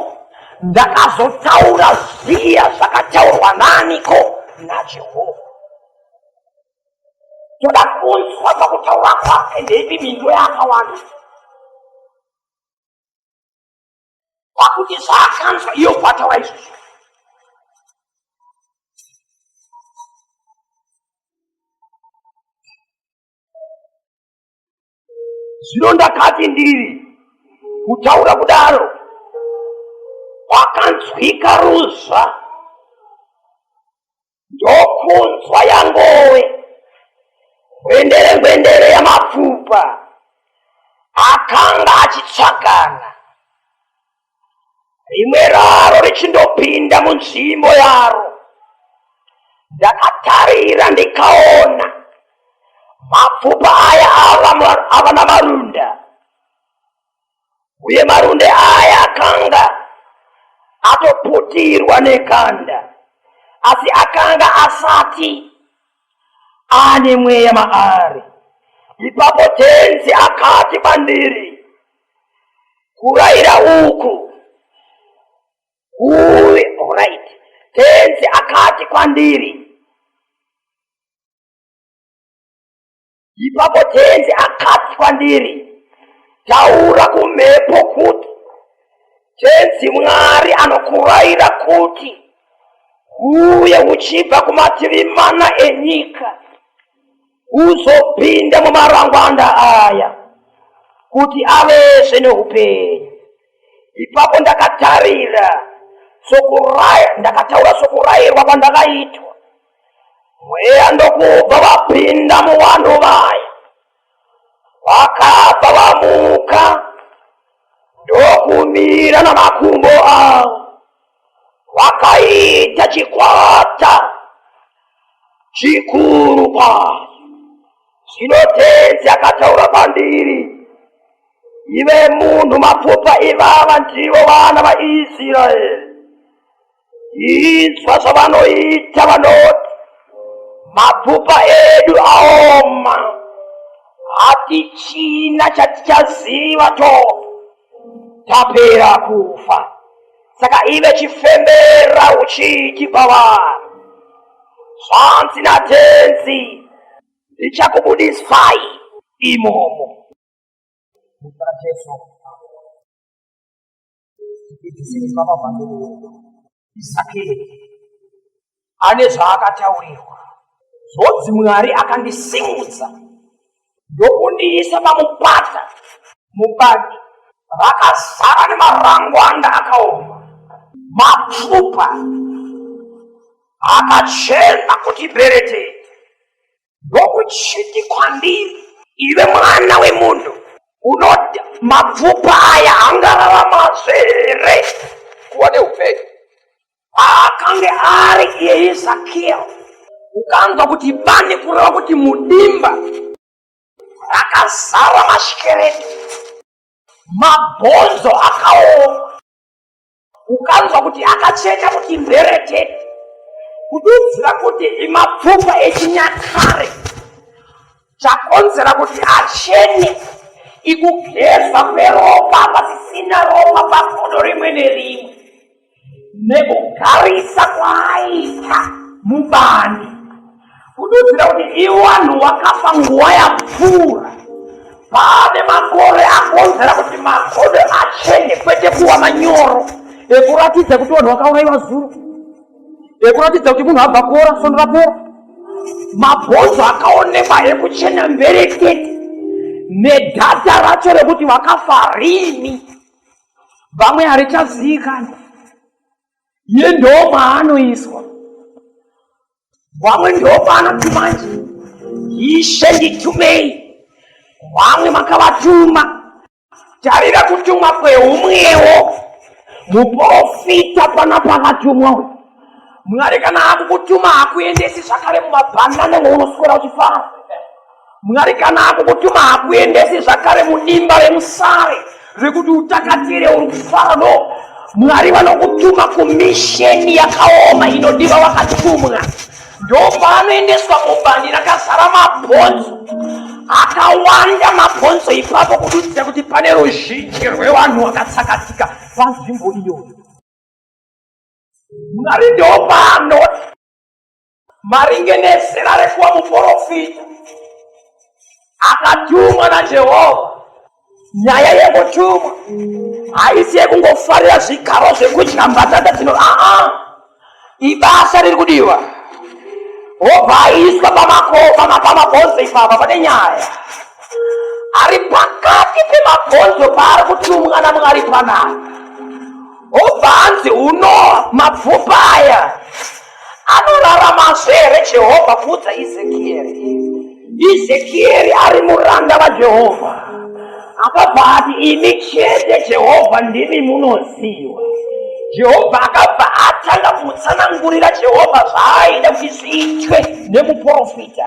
ndakazotaura ziya zvakataurwa naniko najehovha toda kunzwa pakutaura kwake ndeipi mindo yaakawanda pakuti zvaakanzwa iyo kwataura izvozvo zvino ndakati ndiri kutaura kudaro kwakanzwika ruzva ndokunzwa yangowe gwendere gwendere yamapfupa akanga achitsvakana rimwe raro richindopinda munzvimbo yaro ndakatarira ndikaona mapfupa aya ava namarunda uye marunde aya akanga atoputirwa nekanda asi akanga asati ane mweya maari. Ipapo tenzi akati kwandiri, Kurayira uku kuve right. Tenzi akati kwandiri, ipapo tenzi akati kwandiri taura kumhepo kuti tenzi mwari anokuraira kuti uye uchibva kumativi mana enyika uzopinda mumarangwanda aya kuti avese neupenyu ipapo ndakatarira sokuraya ndakataura sokurairwa kwandakaitwa mweya ndokubva vapinda muvanhu vaya vakabva vamuka ndokumira namakumbo avo vakaita chikwata chikuru kwazvo zvino tenzi akataura kwandiri ive munhu mapfupa ivava ndivo vana vaisraeri Inzwa zvavanoita vanoti mapfupa edu aoma, hatichina chatichaziva tofa tapera kufa. Saka ive chifembera uchiti kwavari, zvanzi naTenzi, ndichakubudisai imomo. Muzita raJesu. Zvinhu zvakavandurwa Isakeri ane zvaakataurirwa zvonzi Mwari akandisimudza ndokundiisa pamupata mubani rakazara nemarangwanda akaoma mapfupa akachena kuti berete Ndokuchiti kwandiri, iwe mwana wemunhu, unoti mapfupa aya angararamazve here kuva neupenyu? Paakange ari iye Ezekiel, ukanzwa kuti bani kureva kuti mudimba rakazara mashikereti, mabhonzo akaoma ukanzwa kuti akacheka kuti mberete kududzira kuti imapfupa echinyakare chakonzera kuti achene ikugezwa kweropa pasisina ropa pagodo rimwe nerimwe nekugarisa kwaaita mubani kunoziva kuti iwanhu wakafa nguva yapfuura pane makore akonzera kuti makodo achene kwete kuwa manyoro ekuratidza kuti vanhu vakauraiwa zuro ekuratidza kuti munhu abva kuora sondo rapora mabhonzo akaonekwa ekuchena mberekete nedhata racho rekuti vakafa rini vamwe harichazikani iye ndomaanoiswa vamwe ndopaanoti manje ishe nditumei vamwe makavatuma tarira kutumwa kweumwewo muprofita pana pakatumwa uyu mwari kana akukutuma hakuendesi zvakare mumabhanana mounoswera uchifara Mwari kana akukutuma hakuendesi zvakare mudimba remusare rekuti utakatire uri kufara no mwari vanokutuma kumisheni yakaoma inodiva wakatumwa ndopaanoendeswa mubani rakazara mabhonzo akawanda mabhonzo ipapo kududzira kuti pane ruzhinji rwevanhu wakatsakatika panzvimbo iyoyo mwari ndopaanoti maringe nezera rekuva muporofita akatumwa najehovha nyaya yekutumwa haisi yekungofarira zvigaro zvekudya mbatata dzino aa ibasa riri kudiwa hobva aiswa pamabhonzo ipapa pane nyaya ari pakati pemabhonzo paari kutumwa namwari panaka hobva anzi uno mapfupa aya Anoraramazve here Jehovha kuudza Ezekieri? Ezekieri ari muranda vaJehovha. Akabva ati, Imi chete Jehovha ndimi munoziva. Jehovha akabva atanga kumutsanangurira Jehovha zvaaida kuti zviitwe nemuprofita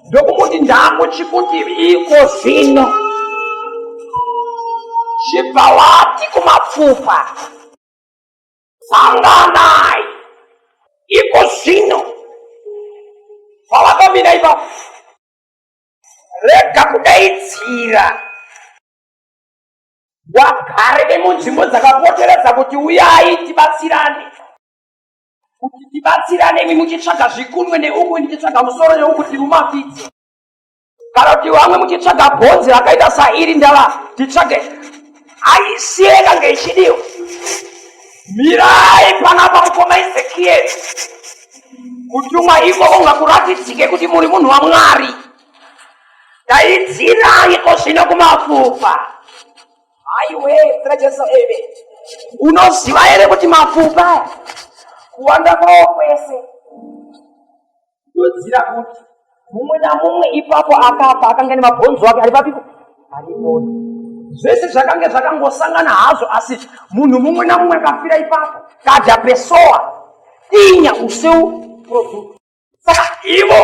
ndokumuti ndakuchikuti iko zvino chibva wati kumapfupa sanganai iko zvino pavakamira ipapo rega kudaidzira wagare vemunzvimbo dzakapoteredza kuti uyai tibatsirane kuti tibatsirane imi muchitsvaga zvikunwe neuku ndichitsvaga musoro yeuku tiri mumafiti kana kuti vamwe muchitsvaga bhonzi rakaita sairi ndava titsvage aisi yekange ichidiwa mirai panapa mukoma ezekieri kutumwa ikoko ngakuratidzike kuti muri munhu wamwari daidzirai ko zvino kumafupa aiwe ra jesu eve unoziva here kuti mafupa kuwanda kwao kwese ndoziva kuti mumwe namumwe ipapo akafa akanga nemabhonzo ake ari papipo arimoto zvese zvakange zvakangosangana hazvo asi munhu mumwe namumwe akafira ipapo kadya pesowa dinya useu product saka ivo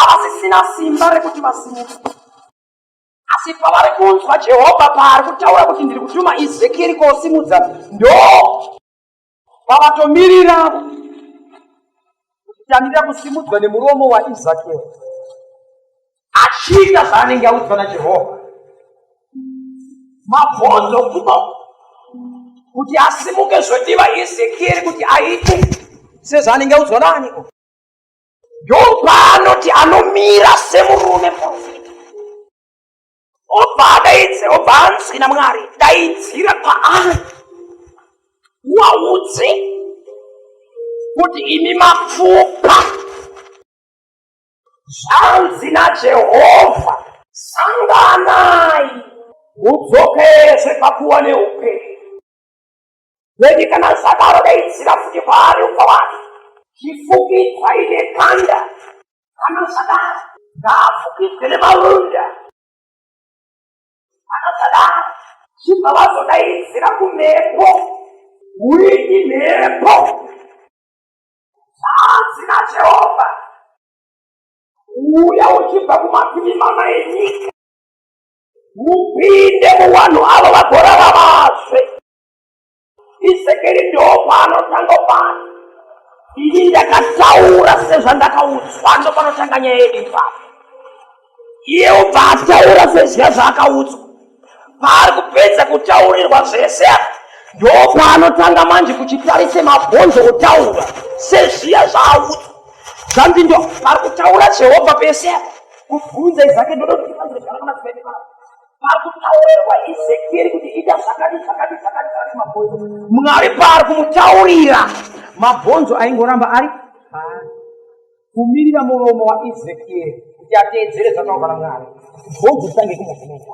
avasisina simba rekuti vasimuke asi pavari kunzwa jehovha paari kutaura kuti ndiri kutuma ezekieri kosimudza ndo Pavatomirira kutangira kusimudzwa nemuromo waIsakeri achiita zvaanenge audzwa naJehovha, mabvonzo kuno kuti asimuke zvotiva Ezekieri kuti aite sezvaanenge audzwa naaniko. Ndopaanoti anomira semurume muprofita obva adaidze obva anzwi namwari daidzira paari waudze kuti imi mapfupa zvanzi najehovha sanganai hudzokezve pakuwa neupenyu Weni kana zvadaro daidzira futi kwaari umba wake. Chifukidzwa ine kanda. Kana zvadaro ngaafukidzwe nemarunda. Kana zvadaro chibva vazodaidzira kumhepo. Wini mhepo. Zvanzi naJehovha. Uya uchibva kumativi mana enyika. mupinde muvanhu avo vagorara vase isekeri ndoopanotanga pano ini ndakataura sezvandakaudzwa ndopanotanga nyaya yedu ipapo iye ubva ataura sezviya zvaakaudzwa paari kupedza kutaurirwa zvese ndopanotanga manje kuchitarise mabhonzo kutaura sezviya zvaaudzwa zvandindo pari kutaura jehovha pese apa kubvunza izake ndodoiaeaa pakutaurirwa ezekieri kuti ita zvakati zvakati zvakati zvakati mabhonzo mwari paari kumutaurira mabhonzo aingoramba ari kumirira muromo waezekieri kuti ateedzere zvataurwa namwari bhonzo titange kumuvhunza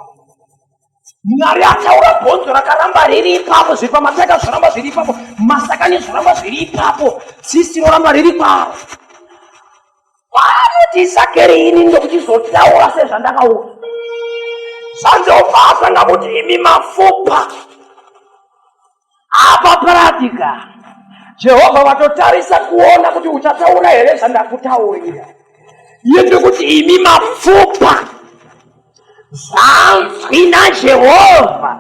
mwari ataura bhonzo rakaramba riri ipapo zviri pamataka zvoramba zviri ipapo masakani zvoramba zviri ipapo tsisi roramba riri paro kwaanoti isakeri ini ndokuchizodyaura sezvandakaura zvanzobva asanga kuti imi mapfupa apa paradika jehovha vatotarisa kuona kuti uchataura here zvandakutaurira yende kuti imi mapfupa zvanzwi najehovha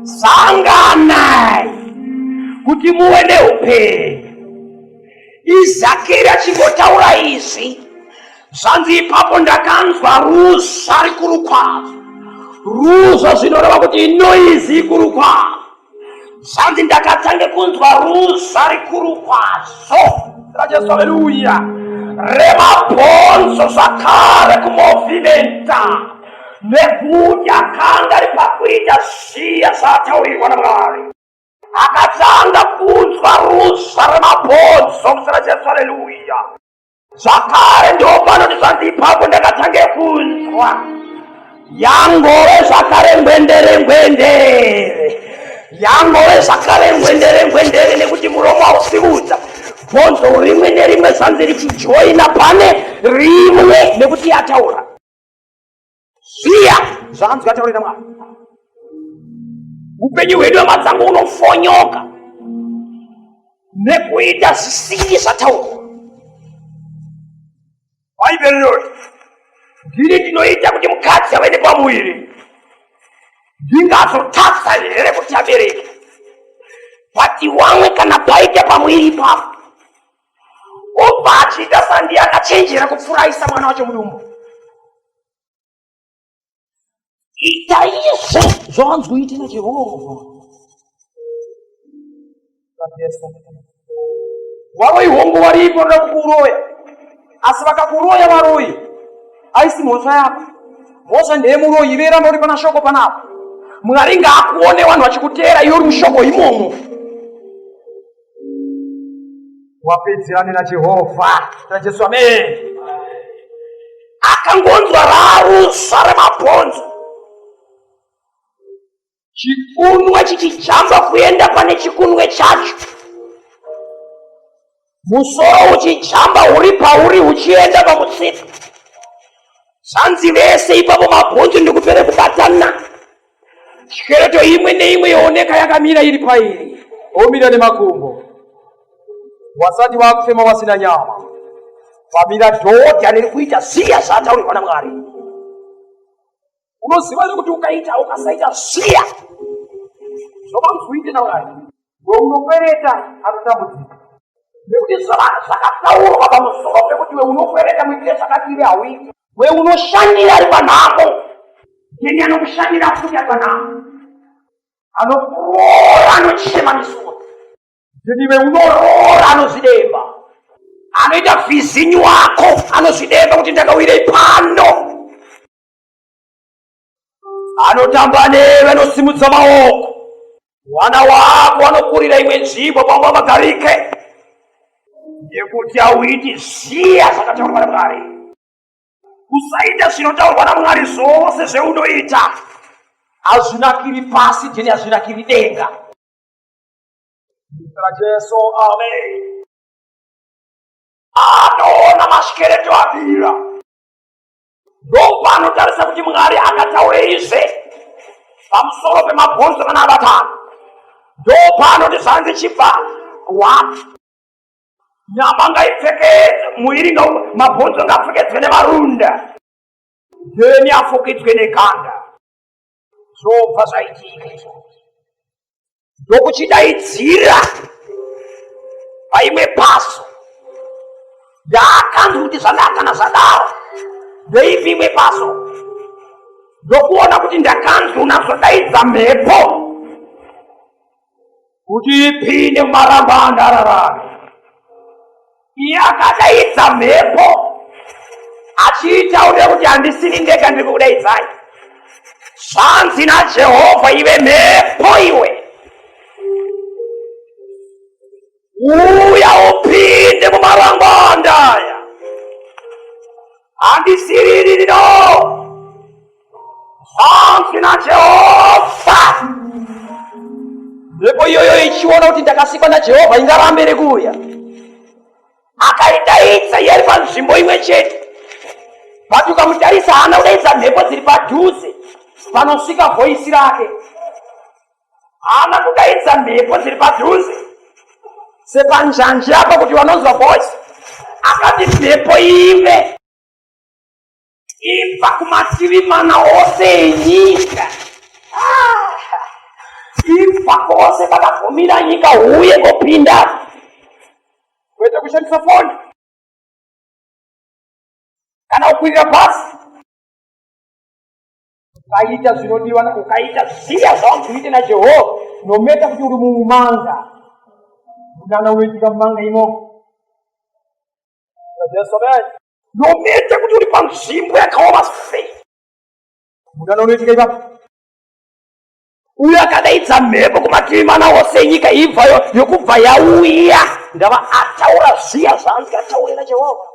sanganai kuti muve neupenyu izakeri achingotaura izvi zvanzi ipapo ndakanzwa ruzha rikuru kwazvo ruzha zvinoreva kuti noizi ikuru kwazvo zvanzi ndakatanga kunzwa ruza rikuru kwazvo rajesu haleluya remabhonzo zvakare kumovhimenta nekuti akanga ari pakuita zviya zvaataurirwa namwari akatanga kunzwa ruza remabhonzo kusera jesu haleluya zvakare ndiwo panoti zvanzi ipapo ndakatange kunzwa yangove zvakare ngwendere ngwendere yangove zvakare ngwendere ngwendere nekuti muromo hausiudza bvonzo rimwe nerimwe zvanzi richijoina pane rimwe nekuti yataura Ziya zvanzi kataurira Mwari. Upenyu hwedu amatsango unofonyoka nekuita zvisingi zvataurwa. Bhaibheri rinoti ndiri ndinoita kuti mukadzi ave nepamuviri ndingazotadza here kuti abereke vati wamwe kana paita pamuviri ipapo obva achiita sandi akachenjera kupfuraisa mwana wacho mudumbu chaizvo zvawanzwoitira jehovha varoyi hongu varipo vanoda kukuroya asi vakakuroya varoyi aisi mhosva yako mhosva ndeyemuroyi ive ramba uri pana shoko panapo mwari ngaakuone vanhu vachikuteera iwe uri mushoko imomo wapedzerane najehovha najesu amen akangonzwa rarusva remabhonzo chikunwe chichijamba kuenda pane chikunwe chacho musoro uchijamba uri pauri uchienda pamutsipa zvanzi vese ipapo mabhonzo ndikupere kubatana Skeleto imwe neimwe yooneka yakamira iri pairi. Omira nemakumbo. Wasati wakufema wasina nyama. Pamira dhodha riri kuita ziya zvaataurirwa naMwari. Unoziva kuti ukaita ukasaita ziya. Zvobamfuite naMwari. Unokwereta anotambudzika nekuti zvakataurwa pamusoro pekuti we unokwereta muitire zvakati ive hauiti. We unoshandira ari panhamo neni anokushandira futi ari panhamo anokuroora anochema misodzi neni we unoroora anozvidemba anoita vhizinyu wako anozvidemba kuti ndakawirei pano anotamba newe anosimudza maoko mwana wako anokurira imwe nzvimbo pamba vagarike nekuti auiti zviya zvakataurwa namwari usaita zvinotaurwa namwari zvose zveunoita hazvinakiri pasi jeni hazvinakiri denga ra jesu amen anoona mashekereto abira ndopanotarisa kuti mwari akataurei zvese pamusoro pemabhonzo kana abatana ndopanoti zvanzi chibva wati nyama ngaipfeke muiri mabhonzo ngaapfekedzwe nemarunda then afukidzwe neganda zvobva zvaitika izvo ndokuchidaidzira paimwe paso ndaakanzwa kuti zvandakana zvadaro ndeipi imwe paso ndokuona kuti ndakanzwa unazvodaidza mhepo kuti ipinde mumarambo andararame yakadaidza mhepo achiita ude kuti handisini ndega ndiri kukudaidzai zvanzi najehovha ive mhepo iwe uya upinde mumarangwanda aya handisiririri no hanzi najehovha mhepo iyoyo ichiona kuti ndakasikwa najehovha ingarambe iri kuuya akaidaidza yeri panzvimbo imwe chete but ukamutarisa haana kudaidza mhepo dziri padhuze panosvika voisi rake haana kudaidza mhepo dziri padhuze sepanjanji apa kuti vanonzwa voice akati mhepo ive ibva kumativi mana ose enyika ibva kose pakabvumira nyika huye kopinda kwete kushandisa foni kana kukwirira bhasi ukaita zvinodiwa ukaita ziya zvaunzi uite najehovha nometa kuti uri mumanga munana unoitika mumanga imo nometa kuti uri panzvimbo yakaoma sei munana unoitika ipapo uyo akadaidza mhepo kumativi mana wose enyika ibvayo yokubva yauya ndava ataura zviya zvaanzi ataurira jehovha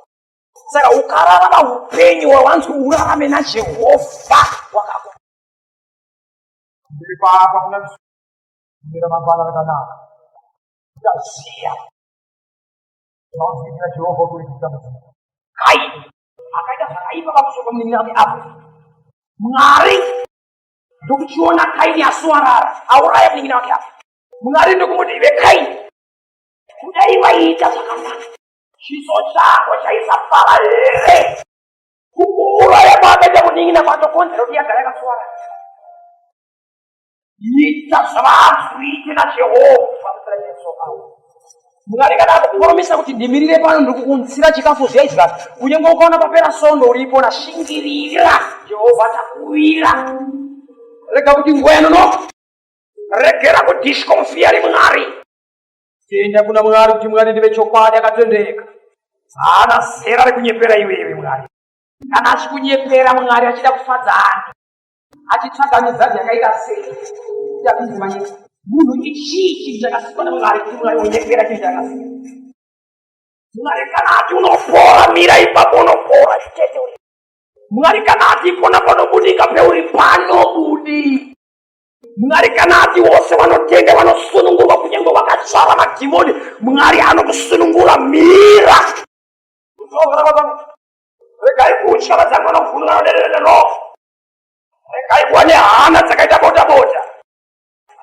saka ukararama upenyu wawanzi urarame najehovha wakako ndiri paapa kuna mira mangwana rakanaka ndaziya zvaunzikira jehovha kuitisa mudzimu kai akaita zvakaipa pamusoro pamunin'ina wake apo mwari ndokuchiona kaini asuwarara auraya munin'ina wake apo mwari ndokumuti ive kaini kudai vaiita zvakanaka chiso chako chaisafara here kukuuraya kwaakaita kunin'ina kwatokonzera kuti yagara yakaswara ita zvavanzwite najehovha kuitira jesu awo mwari kana akukurumisa kuti ndimirire pano ndiri kukuunzira chikafu zviyaizva kunyange ukaona papera sondo uripo nashingirira jehovha takuwira rega kuti nguva yanonoka regera kudishwa mufiyari mwari Tenda kuna Mwari kuti Mwari ndive chokwadi akatendeka. Haana zera rekunyepera iwewe Mwari. Kana achikunyepera Mwari achida kufadza ani? Achitsvaga mizadzi yakaita sei? Tapinzi manyika. Munhu ichii chinhu chakasikwa naMwari kuti Mwari unyepera chinhu chakasikwa? Mwari kana ati unopora mira ipapo unopora chete. Mwari kana ati ipona panobudika peuri panobudika. mwari kana ati vose vanotenda vanosunungurwa kunyange vakazvara madhimoni mwari anokusunungura mira regai kutya vadzange vanovhunura vaderereroo regai kuva nehana dzakaita bota bota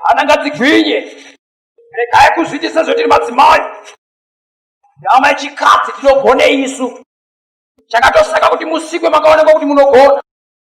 hana ngadzigwinye regai kuzviiti sezvotiri madzimai nyama yechikadzi tinogonei isu chakatosaka kuti musikwe makaonekwa kuti munogona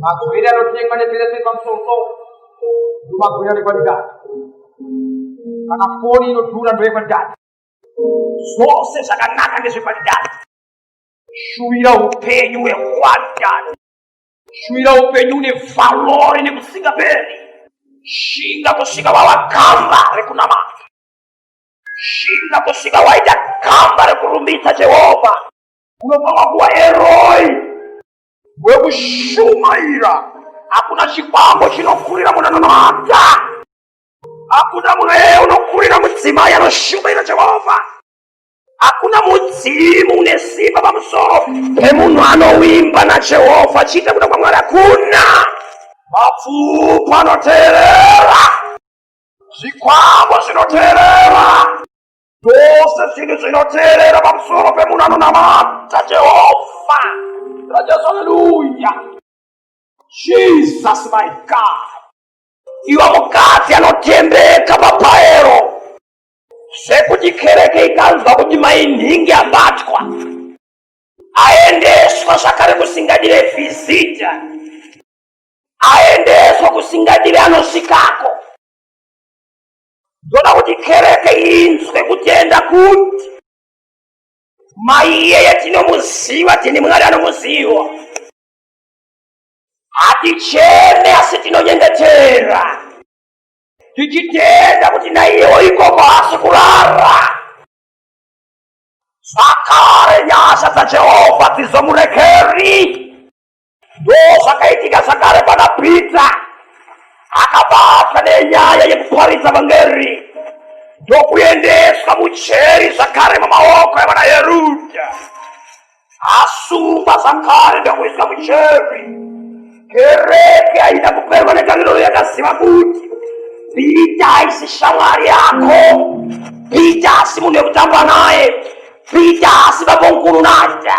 magwere anotengwa neperese pamusoro ndomagwere anekwadidati kana foni inodhura ndoyekwadidati zvose zvakanaka ndezvekwadidati shuvira upenyu hwekwadidati shuvira upenyu une valori nekusingaperi shinga kusvika wawakamba rekunamata shinga kusvika waita kamba rekurumbidza jehovha unofanwa kuva eroi wekushumaira hakuna chikwambo chinokurira munhu anonamata hakuna munhu eye unokurira mudzimai anoshumaira jehovha hakuna mudzimu une simba pamusoro pemunhu anowimba najehovha achiita kuda kwamwari hakuna mapfupa anoteerera zvikwambo zvinoteerera zvose zvinhu zvinoteerera pamusoro pemunhu anonamata jehovha rajesu aleluya jesus my god iwe mukadzi anotendeka papaero zvekuti kereke ikanzwa kuti mainhingi abatwa aendeswa zvakare kusingadire vhizita aendeswa kusingadire anosvikako ndoda kuti kereke inzwe kutenda kuti mai iyeye tinomuziva tini mwari anomuziva haticheme asi tinonyengetera tichitenda kuti naiyewo ikoko haasi kurara zvakare nyasha dzajehovha dzizomurekeri ndozvakaitika zvakare pana pita akabatwa nenyaya yekuparidza vangeri ndokuendeswa mucheri zvakare mumaoko evana yeruda asungwa zvakare ndokuiswa mucheri kereke aida kuperwa netariro yakaziva kuti pita aisi shamwari yako pita asi munhu yekutamba naye Pita asi babomkuru naita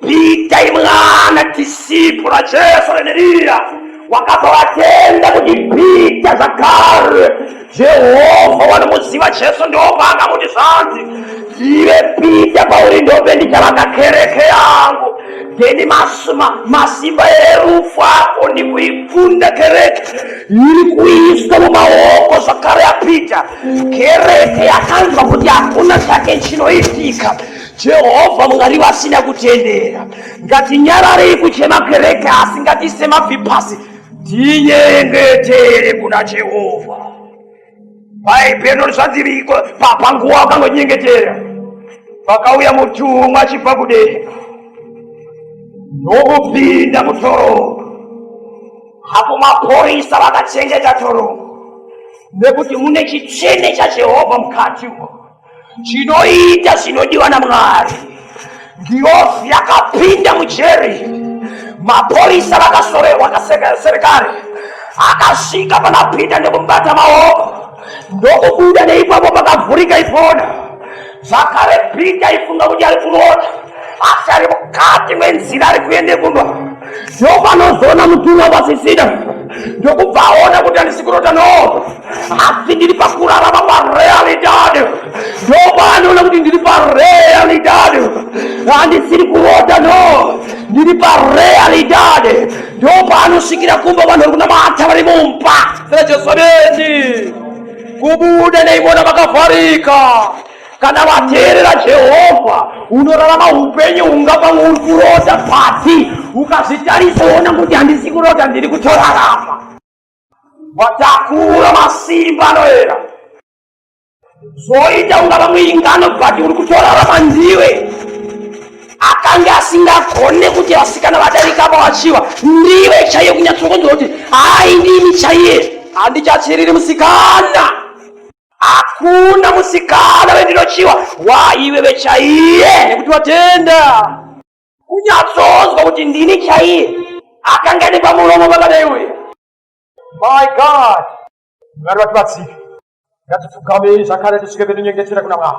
Pita imwana disipuro raJesu reneriya wakabva vatenda kuti Pita zvakare Jehovha wanomuziva Jesu ndovanga kuti zvanzi ive Pita pauri ndope ndichavaka kereke yangu ndeni masimba erufu ako ndikuikunda kereke iri kuiswa mumaoko zvakare aPita kereke yakanzwa kuti hakuna chake chinoitika jehovha mwari vasina kutendera ngatinyararei kuchema kereke asi ngatiise mabvi pasi tinyengetere kuna jehovha bhaibheri rizvadziriko panguva wakangonyengetera pakauya mutumwa achibva kudenga nokupinda mutoroka apo mapurisa vakachengeta torongo nekuti mune chitsvene chajehovha mukati umo chinoita zvinodiwa namwari ndiofi yakapinda mujeri mapurisa vakasoverwa kaserikari akasvika panapinda nekumubata maoko ndokubuda neipapo pakavhurika ipona zvakare peter aifunga kuti ari kurota asi ari mukati menzira ari kuende kumba ndopanozoona mutumwa vasisida ndokubva aona kuti handisi kurota no asi ndiri pakurarama parealitad ndopanoona kuti ndiri parealitad handisiri kurota no ndiri parealitad ndopanosvikira kumba vanhu vari kunamata vari mumba sera jesu ameni kubuda neivona vakavharika kana vateerera jehovha unorarama upenyu unga pamwe uri kurota pasi ukazvitarisa woona kuti handisi kurota ndiri kutorarama watakura masimba anoera zvoita unga vamwe ingano but uri kutorarama ndiwe akange asingagone kuti vasikana vadarika apa vachiwa ndiwe chaiye kunyatsokonzwa kuti hai ndimi chaiye handichatsiriri musikana hakuna musikana vendinochiwa waiwe vechaiye nekuti vatenda kunyatsonzwa kuti ndini chaiye akanga ane pamuromo pakadai uye my god mwari vatibatsiri ngatipfugamei zvakare tisvike petinyengetera kuna mwari